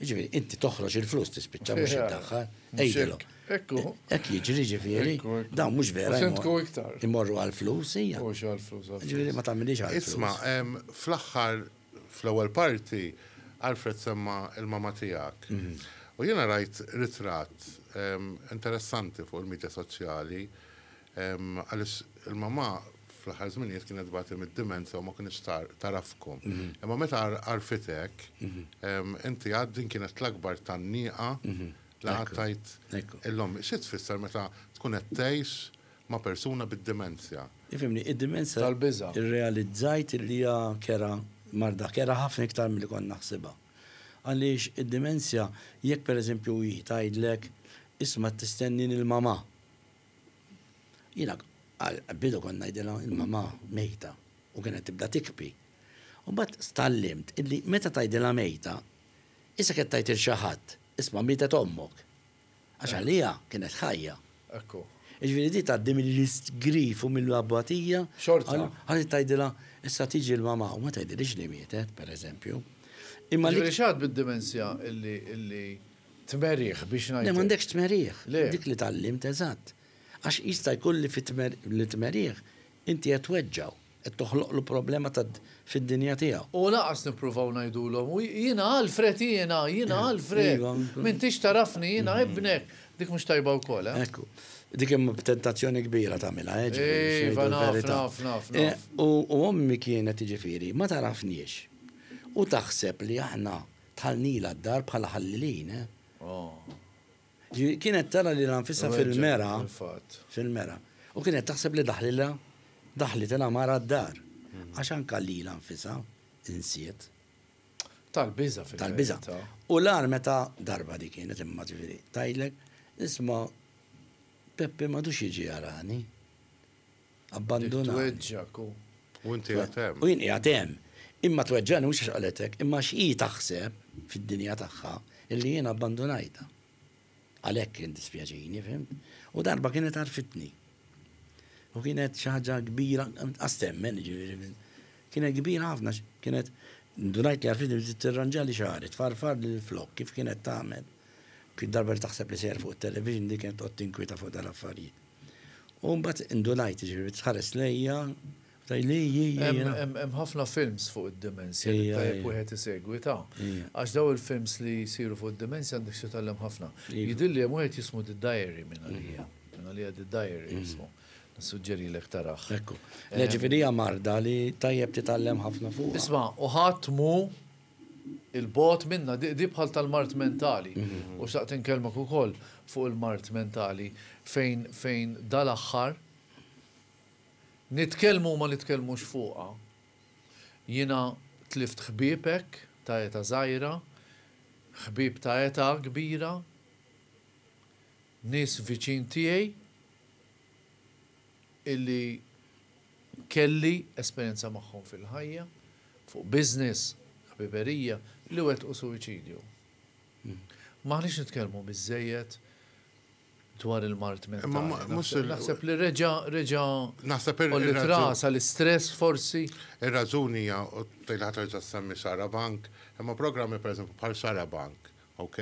Ġifieri, inti toħroġ il-flus tispiċċa mhux iddaħħal. Ejdilhom. Ekku. Hekk jiġri ġifieri, dawn mhux vera. Sentku iktar. Imorru għall-flus hija. Mhux għall-flus. Ġifieri ma tagħmilix għall-flus. Isma', fl-aħħar Fl-ewwel parti, Alfred semma l-mamma tiegħek. U jiena rajt ritratt interessanti fuq il-midja soċjali għaliex il-mamma fl-aħħar żminijiet kienet tbati mid-dimensja u ma kinitx tagħrafkom. Imma meta għarfitek, inti għad din kienet l-akbar tgħanniqa li għattajt lill-ommik. Xi tfisser meta tkun qed tgħix ma' persuna bid-dimensja. Ifhimni, id-dimensja. Tal-biża'. Irrealizzajt li hija kerha, marda kerha ħafna iktar milli kont naħsibha. Għaliex id-dimensja, jekk pereżempju hi tgħidlek, isma' qed tistennini l-mamà. Jiena għall-bidu kont ngħidilha l-mamà mejta u kienet tibda tikbi. U mbagħad tgħallimt illi meta tgħidilha mejta, isek qed tgħid 'il xi ħadd, isma' mietet ommok. Għax għalija kienet ħajja. Ekku. Iġviri di tgħaddi mill-istgrif u mill-abbatija. Xorta. Għalli tgħidilha issa tiġi l-mama u ma tgħidilix li mietet, pereżempju. Imma li. X'għad bid-dimensja illi tmerih biex ngħid. Le m'għandekx tmerih. Le. Dik li tgħallimt eżatt. Għax jista' jkun li fit-tmerih inti qed tweġġgħu. Qed toħloqlu problema ta' fid-dinja tiegħu. U lanqas nippruvaw ngħidulhom, u jiena Alfred jiena, jiena Alfred, m'intix tagħrafni, jiena ibnek, dik mhux tajba wkoll, eh? Ekku. Dik hemm tentazzjoni kbira tagħmilha, eh, ġifieri biex ngħidu l-verità. Iva, naf, naf, naf, naf. U ommi kienet, jiġifieri, ma tagħrafniex u taħseb li aħna dħalnilha d-dar bħala ħallilin, eh. Oh. Ġifieri kienet tara lilha nfisha fil-mera, fil-mera, u kienet taħseb li daħlilha, daħlitilha mara d-dar. Għax anke lilha nfisha insiet. Tal-biża' fil-verità. Tal-biża'. U l-agħar meta darba dik kienet imma ġifieri tgħidlek, isma' Peppi m'għadux jiġi jarani. abbandunani. Tweġġgħek u jien qiegħed hemm. U jien qiegħed hemm. Imma tweġġagħni mhux għax qalethek, imma għax hi taħseb, fid-dinja tagħha, illi jien abbandunajtha. Għalhekk kien dispjaċini, fhimt? U darba kienet għarfitni. U kienet xi ħaġa kbira, qas temmen, jiġifieri. Kienet kbira ħafna, kienet ndunajt li għarfitni biex tirranġali xahar, tfarfar lil flok kif kienet tagħmel. Kien darba li taħseb li sejjer fuq it-television li kienet qod tinkwita fuq dal-affarijiet. U mbagħad indunajt, ġifieri tħares lejja, tajli Hemm ħafna films fuq id-dimensja li tajjeb wieħed isegwi ta. Għax daw il-films li jsiru fuq id-dimensja għandek xi titgħallem ħafna. Jidhirli hemm wieħed jismu The Diary minn għalija. Minn għalija The Diary jismu. Nissuġġerilek tarah. Ekku. Ġifieri hija marda li tajjeb titgħallem ħafna fuqha. Isma' u ħadd mhu 'il bogħod minnha, di bħal tal-mard mentali. U xtaqt inkellmek ukoll fuq il-mard mentali fejn fejn dal-aħħar nitkellmu u ma nitkellmux fuqha. Jiena tlift ħbieb hekk ta' eta' żgħira, ħbieb ta' eta' kbira, Nies viċin tiegħi illi kelli esperjenza magħhom fil-ħajja, fuq business, ħbiberija, li wettqu suwiċidju. M'aħniex nitkellmu biżżejjed dwar il-mard mentali. Naħseb li reġa' reġa' naħseb il-trasa l-istress forsi. Ir-raġuni hija tejlaħ terġa' semmi Sara Bank, imma programmi pereżempju bħal Sara Bank Ok,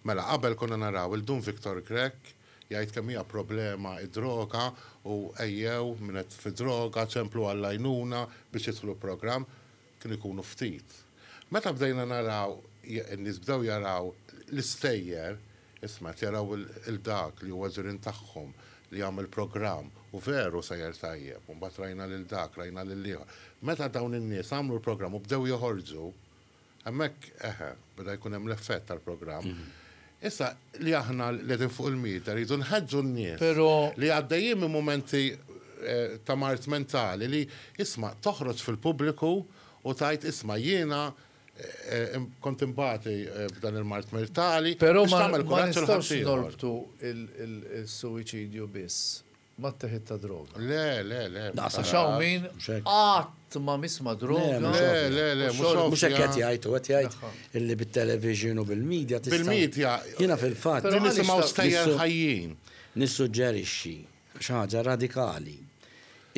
mela qabel konna naraw il Dun Victor Grech jgħid kemm hija problema d-droga u ejjew min qed fi droga ċemplu għall-għajnuna biex jidħlu programm, kienu jkunu ftit. Meta bdejna naraw in-nies bdew jaraw l-istejjer, isma' qed jaraw lil dak li huwa ġirien tagħhom li jagħmel programm u veru sejjer tajjeb u mbagħad rajna lil dak, rajna lil ieħor. Meta dawn in-nies għamlu l-programm u bdew joħorġu, Hemmhekk, eħe, beda jkun hemm l-effett tal-programm. Issa, li aħna li qegħdin fuq il-media rridu nħeġġu n-nies li għaddejjin minn mumenti eh, ta' mart mentali li isma' toħroġ fil-pubbliku u tgħid isma' jiena Eh, eh, kont imbati eh, b'dan il-mart mertali. Pero ma nistawx norbtu il-suicidju biss Mat-teħid ta' droga. Le, le, le. Naqas għax hawn min qatt ma miss ma' droga. Le, le, le, mhux ovvja. Mhux hekk qed jgħid, hu qed jgħid illi bit-television u bil-media tista'. Bil-media. Jiena fil-fatt. Li nisimgħu stejjer ħajjin. Nissuġġerixxi xi ħaġa radikali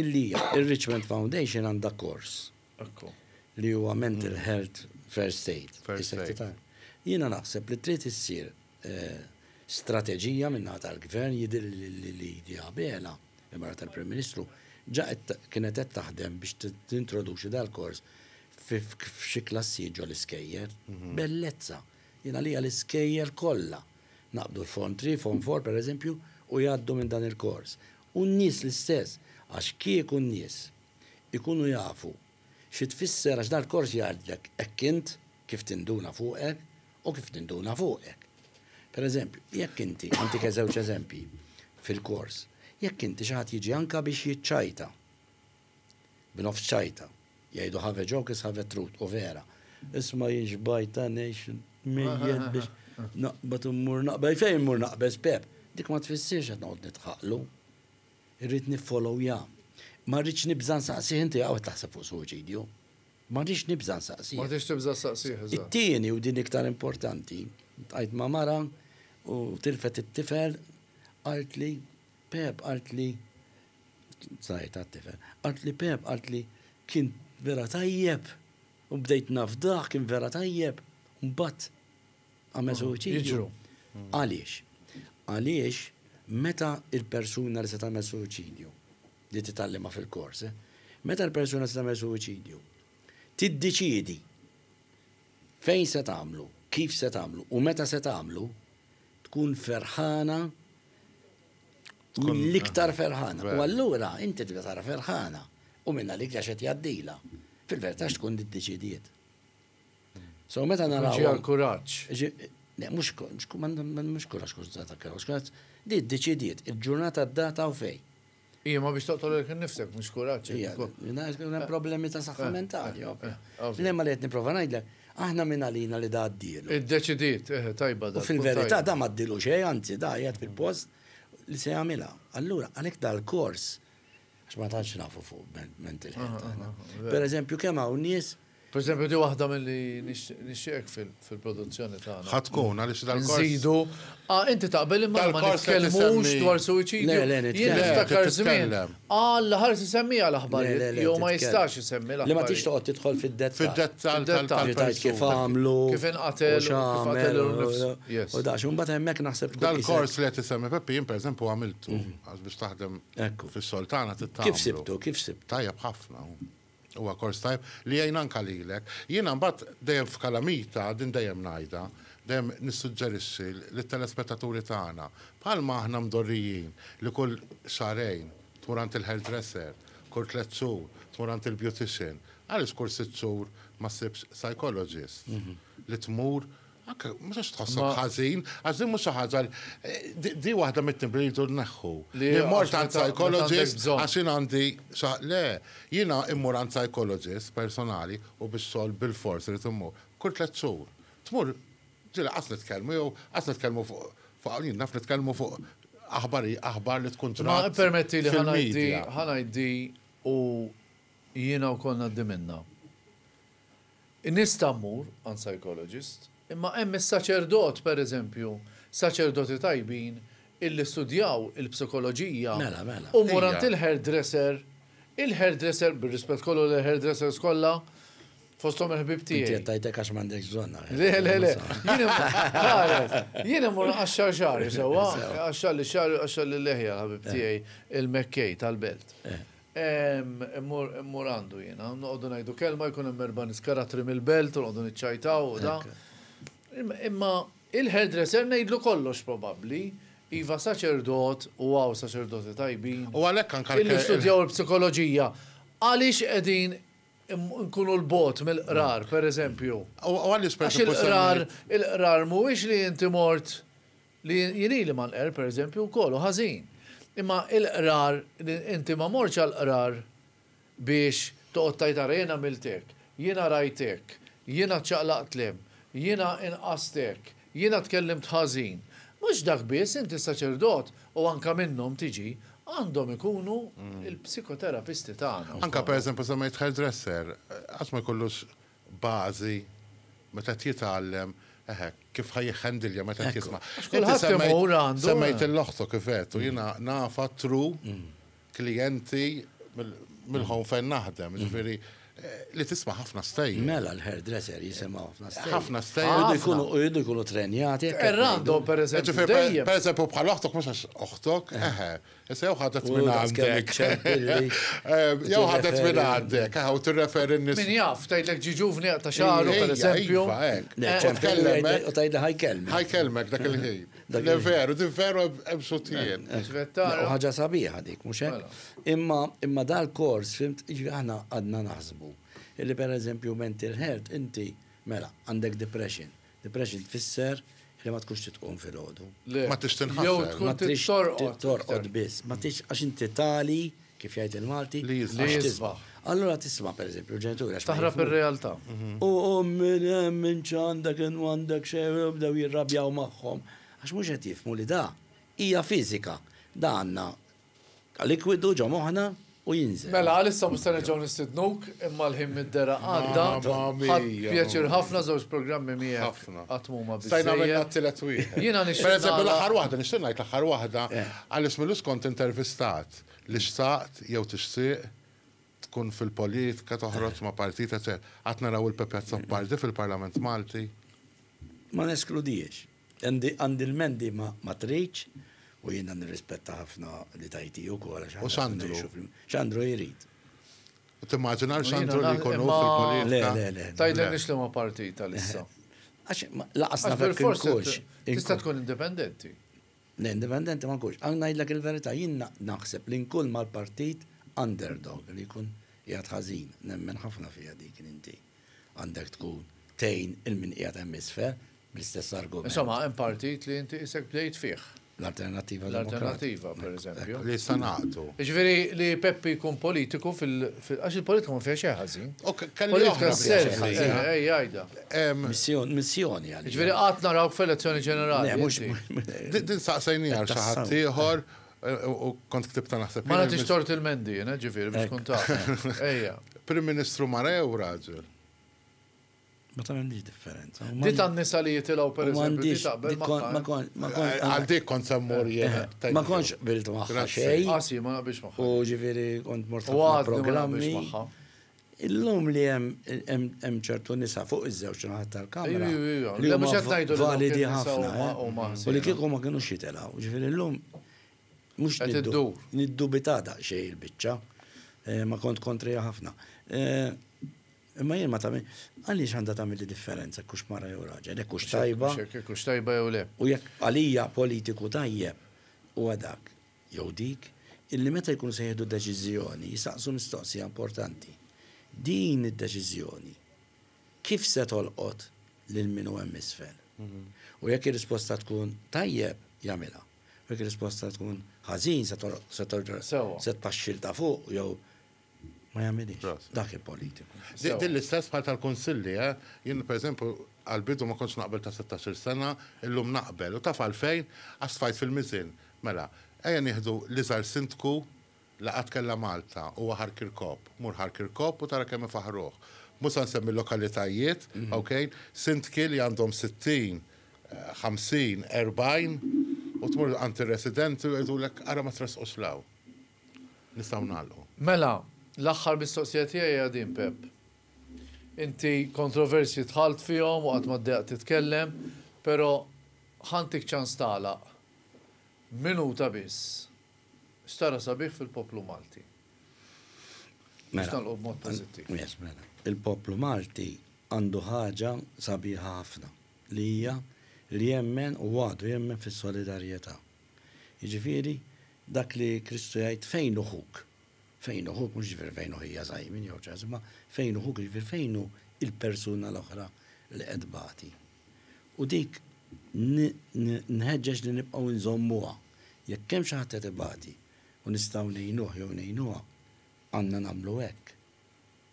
illi r-Richmond Foundation għandha kors li huwa mental health first aid. First aid. Jiena naħseb li trid issir strateġija min-naħa tal-Gvern, jidhirli li Lydia Abela, il-mara tal-Prim Ministru, ġa kienet qed taħdem biex tintroduċi dal-kors f'xi klassijiet ġol-iskejjel. Bellezza! Jien għalija l-iskejjel kollha naqbdu l-Form Three, Form Four pereżempju, u jgħaddu minn dan il-kors. U n-nies l-istess, għax kieku n-nies ikunu jafu xi tfisser għax dal-kors jgħidlek hekk int, Kif tinduna fuqek u kif ninduna fuqek. Per eżempju, jekk inti, nagħtik żewġ eżempji fil-kors, jekk inti xi ħadd jiġi anke biex jiċċajta, b'nofs ċajta, jgħidu have a joke is have a truth, u vera. Isma' jien xbajta ngħix mejjed biex naqbad u mmur naqbad. Fejn immur naqbeż Pep? Dik ma tfissirx qed noqgħod nidħaqlu. Irrid niffolowja. Ma rridx nibża' nsaqsih inti hawn qed taħseb fuq suwiċidju. M'għadix nibża' nsaqsih. M'għadix tibża' ssaqsih, eżatt. It-tieni, u din iktar importanti, ltqajt ma' mara u tilfet it-tifel, qaltli, Pep, qaltli, żgħir ta' tifel, qaltli, Pep, qaltli, kien vera tajjeb u bdejt nafdah, kien vera tajjeb, u mbagħad għamel suwiċidju. Għaliex? Għaliex meta l-persuna li se tagħmel suwiċidju li titgħallimha fil-kors, meta l-persuna se tagħmel suwiċidju, tiddeċiedi fejn se tagħmlu, kif se tagħmlu u meta se tagħmlu, tkun ferħana mill-iktar ferħana. U allura inti tibda tara ferħana u minna li għax qed jgħaddila. Fil-verità tkun diddeċidiet. So meta naraw. Ġi għal kuraġġ. Le, mhux mhux kuraġġ kux data kuraġġ, kuraġġ di ddeċidiet il-ġurnata d-data u fej. Ija ma biex toqtol il nifsek, mhux kuraġġ. Ija, problemi ta' saħħa eh, mentali. Eh, eh, le ma li qed nipprova ngħidlek, aħna minn għalina li da għaddielu. Iddeċidiet, tajba da. Fil-verità da ma ddilu xejn, anzi da jgħid fil-post li se jagħmilha. Allura għalhekk dal-kors Għax ma tantx nafu fuq mental health aħna. Per eżempju, kemm hawn nies Per eżempju, di waħda mill-li nixxieqek fil-produzzjoni tagħna. Ħadd tkun għaliex dal-kors. Nżidu. Ah, inti taqbel imma ma nitkellmux dwar suwiċidju. Le, le, nitkellem. Niftakar żmien. Għal ħares isemmija l-aħbar. Jew ma jistax isemmi l-aħbar. Li ma tix toqgħod tidħol fid-dettall. Fid-dettall tal-dettall. Kif għamlu. Kif inqatel. Kif għamel. U dax, un bat hemmhekk naħseb. Dal-kors li qed isemmi Peppi, jien pereżempju għamiltu għax biex taħdem Ekku. Fis-sol tagħna titgħamlu. Kif sibtu, kif sibtu? Tajjeb ħafna. Huwa kors tajjeb li jgħin anka lilek. Jiena mbagħad dejjem f'kalamita, din dejjem ngħidha, dejjem nissuġġerixxi lit-telespettaturi tagħna, bħalma aħna mdorrijin li kull xahrejn tmur għand il-hairdresser, kull tliet xhur tmur għand il-beautician, għaliex kull sitt xhur ma ssibx psychologist li tmur Anke, ma sax tħassab ħażin, għax din mhux xi ħaġa di waħda mit-timbri li jridu nneħħu. Li mort għand psychologist għax jien għandi le, jiena immur għand psychologist personali u bix-xogħol bilfors irid immur. Kull tliet xhur. Tmur, ġieli lanqas nitkellmu jew lanqas nitkellmu fuq hawn naf nitkellmu fuq aħbar aħbar li tkun ġrat. Ma permetti li ħa ngħid di u jiena wkoll ngħaddi minnha. In-nies ta' mmur għand psychologist, imma hemm is-saċerdot, per eżempju, saċerdoti tajbin illi studjaw il-psikoloġija u mmur għand il-hairdresser, il-hairdresser, bir-rispett kollu lejn hairdressers kollha, fosthom il-ħbieb tiegħi. Inti qed tgħid hekk għax m'għandekx bżonn. Le, le, le. Jien immur iqaxxar xagħri sewwa, iqaxxarli x-xagħar u jqaxxarli l-leħja l-ħabib tiegħi il-Mekkej tal-Belt. Immur għandu jiena, noqogħdu ngħidu kelma jkun hemm erba' nies karattri mill-belt u noqogħdu niċċajtaw u da. Imma il-hairdresser ngħidlu kollox probabbli. Iva saċerdot u hawn saċerdoti tajbin. U għalhekk anke l-kelma. Li studjaw il-psikoloġija. Għaliex qegħdin nkunu l-bogħod mill-qrar, pereżempju? U għaliex pereżempju. Għax il-qrar, il-qrar mhuwiex li inti mort Li jien ili ma nqerr, per eżempju, wkoll hu ħażin. Imma il-qrar, inti ma mortx għall-qrar biex toqgħod tgħid ara jien għamilt hekk, jiena rajt hekk, jiena ċċaqlaqt 'l hemm, jiena inqast hekk, jiena tkellimt ħażin. Mhux dak biss, inti s-saċerdot, u anke minnhom tiġi, għandhom ikunu l-psikoterapisti tagħna. Anke per eżempju semmejt hairdresser, qatt ma jkollux bażi meta qed jitgħallem, eħe, kif ħa jħandilja meta qed jisma'. Kulħadd Semmejt il-loħto kif qed u jiena nafa tru mm. klijenti mill-ħon fejn naħdem, mm. ġifieri li tisma ħafna stejjer. Mela l-hairdresser jisimgħu ħafna stejjer. Ħafna stejjer. Jridu jkunu trenjati. Errando, per eżempju. Per eżempju, bħal oħtok mhux għax oħtok, eh. eħe, Issa jew ħadet minn għandek. Jew ħadet minn għandek, għaw t-referi n-nis. Min jaf, tajdlek ġi ġuvni ta' xaru, per eżempju. U tajdlek ħajkelmek. Ħajkelmek dak il-ħin. Dak il-veru, di veru ebsutien. Uħħaġa sabiħa dik, muxek. Mela. Imma dal-kors, fimt, ġvi ħana għadna naħsbu. Illi per eżempju mental health, inti, mela, għandek depression. Depression tfisser li ma tkunx trid tqum filgħodu. Le. Ma tridx tinħasel. Jew tkun trid torqod. Torqod biss. Ma tridx għax inti tali, kif jgħid il-Malti, li jisbaħ. Allura tisma' pereżempju l-ġenituri għax. Taħrab ir-realtà. U min hemm min x'għandek in m'għandek xejn u jibdew jirrabjaw magħhom. Għax mhux qed jifhmu li da hija fiżika. Da għandna Qa likwidu ġo moħħna u jinżel. Mela għalissa mhux se nerġgħu nistidnuk imma l-ħin mid-dergħa għadda. Ħadt pjaċir ħafna żewġ programmi miegħek qatt m'huma biżżejjed. Stajna għamilna t-tielet wieħed. Jiena nixtieq ngħid. Pereżempju l-aħħar waħda, nixtieq ngħid l-aħħar waħda Alice Milus kont intervistat li xtaqt jew tixtieq tkun fil-politika toħroġ ma' partit eċċetera. Għad naraw il-Pepe Azzopardi fil-Parlament Malti? Ma neskludihiex. Għandi l-ment di ma tridx u jiena nirrispetta ħafna li tajti ukoll għax aħna qed ngħixu flimkien. U Sandru? X'Andru jrid? Timmaġinax Sandru li jkun hu fil-politika? Le, le, le. Tgħidilniex liema partit għalissa. Għax lanqas naf jekk inkunx. Tista' tkun indipendenti. Le, indipendenti ma nkunx. Għal ngħidlek il-verità, jien naħseb li nkun mal-partit underdog li jkun qiegħed ħażin. Nemmen ħafna fiha dik li inti għandek tkun tgħin il-min qiegħed hemm isfel, bl-istess argument. Insomma, hemm partit li inti isek bdejt fih. L-alternativa L-alternativa, per eżempju. Li sanaqtu. Ġveri li Peppi jkun politiku fil għax il-politika ma fiex ħażin. Politika servi, ej, għajda. Missjoni għal. Ġveri għat naraw f'elezzjoni ġenerali. Din saqsajni għal xaħat ieħor u kont ktibta naħseb. Ma nagħtix tort il-mendi, ġifieri biex tkun taf. Ejja. Prim Ministru Marew raġel. Ma tagħmilx differenza. Di tan-nisa li jitilgħu per eżempju taqbel Għal dik kont semmur jien. Eh, ma kontx bilt magħha xejn. Għasi, ah, ma naqbilx magħha. U ġifieri kont mort fuq programmi. Illum li hemm ċertu nisa fuq iż-żewġ naħat tal-kamra. Li huma validi ħafna. Eh? U li kieku ma kienu xitilgħu. Ġifieri illum mhux niddu. Niddu bitada xejn il-biċċa. Eh, ma kont kontrija ħafna. Imma jien ma tagħmel, għaliex għandha tagħmilli differenza jekk hux mara jew raġel, jekk hux tajba. Jekk hux tajba jew le. U jekk għalija politiku tajjeb huwa dak, jew dik, illi meta jkunu se jieħdu deċiżjoni jistaqsu mistoqsija importanti, din id-deċiżjoni kif se tolqot lil min hu hemm isfel? U jekk ir-risposta tkun tajjeb, jagħmilha. U jekk ir-risposta tkun ħażin se tolqot, se tpaxxi 'l ta' fuq jew Ma jagħmilhiex. Dak il-politiku. Din l-istess bħal tal-kunsilli, eh? Jien pereżempju għall-bidu ma kontx naqbel ta' sittax-il sena, illum naqbel. U taf għalfejn? Għax tfajt fil-miżien. Mela, ejja nieħdu l-iżgħar sindku li qatt kellha Malta, huwa Ħar Kirkop. Mur Ħar Kirkop u tara kemm ifaħħruh. Mhux se nsemmi l-lokalitajiet, ok? Sindki li għandhom sittin, ħamsin, erbgħin u tmur għand ir-residenti u jgħidulek ara ma tressqux 'l hawn. nistgħu nagħlqu. Mela, l-aħħar mistoqsija tiegħi hija din Pepp. Inti kontroversji dħalt fihom u qatt ma ddejjaqt titkellem, però ħa ntik ċans tagħlaq. Minuta biss. X'tara sabiħ fil-poplu Malti? Biex mela, nagħlqu b'mod pożittiv. Mela, il-poplu Malti għandu ħaġa sabiħa ħafna li hija li jemmen u għadu jemmen fis-solidarjetà. Jiġifieri, dak li Kristu jgħid, fejn hu ħuk? Fejn hu ħuk, mhux jiġifieri fejn hu ħija Simon jew ċ-ċaħs, imma fejn hu ħuk, jiġifieri fejn hu l-persuna l-oħra li qed tbati. U dik nħeġġeġ li nibqgħu nżommuha. Jekk hemm xi ħadd qed ibati u nistgħu ngħinuh jew ngħinuha, għandna nagħmlu hekk.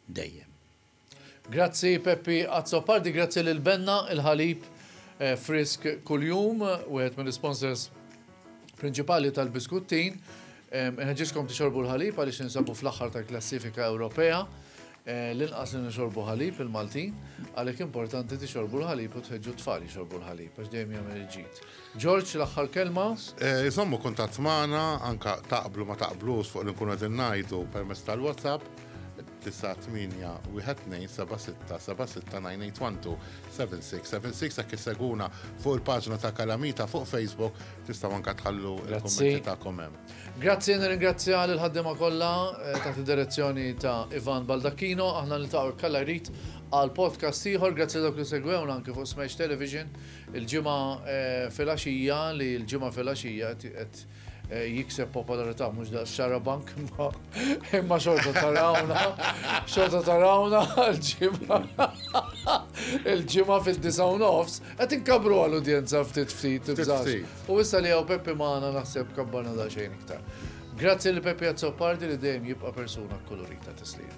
dejjem. Grazzi Peppi Azzopardi, grazzi lil Benna, il-ħalib frisk kuljum, wieħed mill-isponsors prinċipali tal-biskuttin. Inħeġġiskom tixorbu l-ħalib għaliex ninsabu fl-aħħar tal-klassifika Ewropea. Eh, l-inqas li nixorbu ħalib il-Maltin, għalhekk importanti tixorbu l-ħalib u tħeġġu t-tfal jixorbu l-ħalib għax dejjem jagħmel il-ġid. George, l-aħħar kelma. Iżommu kuntatt magħna, anke taqblu ma taqblux fuq li nkunu qegħdin ngħidu permezz tal-WhatsApp, 981-12-76-76-981-12-76-76 hekk isseguna fuq il-paġna ta' Kalamita fuq Facebook tistgħu anke tħallu l-kummenti tagħkom hemm. Grazzi, nirringrazzja lil ħaddiema kollha eh, taħt id-direzzjoni ta' Ivan Baldacchino, aħna niltaqgħu kalla jrid għal podcast ieħor, grazzi dawk li segwewna anke fuq Smash Television. Il-Ġimgħa filgħaxija li l-Ġimgħa filgħaxija qed jikseb popolarità mhux daqs xarabank imma xorta tarawna xorta tarawna l-ġimgħa il-ġimgħa fid-disa u nofs qed inkabru għal udjenza ftit ftit u issa li hawn Peppi magħna naħseb kabbarna daqsxejn iktar. Grazzi li Peppi Azzopardi li dejjem jibqa' persuna kolorita tislim.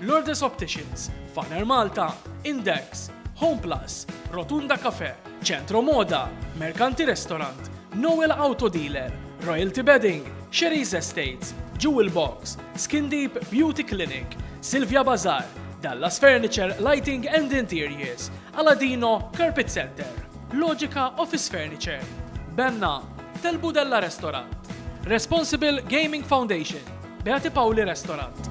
Lourdes Opticians, Faner Malta, Index, Homeplus, Rotunda Cafè, Centro Moda, Mercanti Restaurant, Noel Auto Dealer, Royalty Bedding, Sherry's Estates, Jewel Box, Skin Deep Beauty Clinic, Sylvia Bazaar, Dallas Furniture Lighting and Interiors, Aladino Carpet Center, Logica Office Furniture, Benna, Telbu Della Restaurant, Responsible Gaming Foundation, Beati Paoli Restaurant.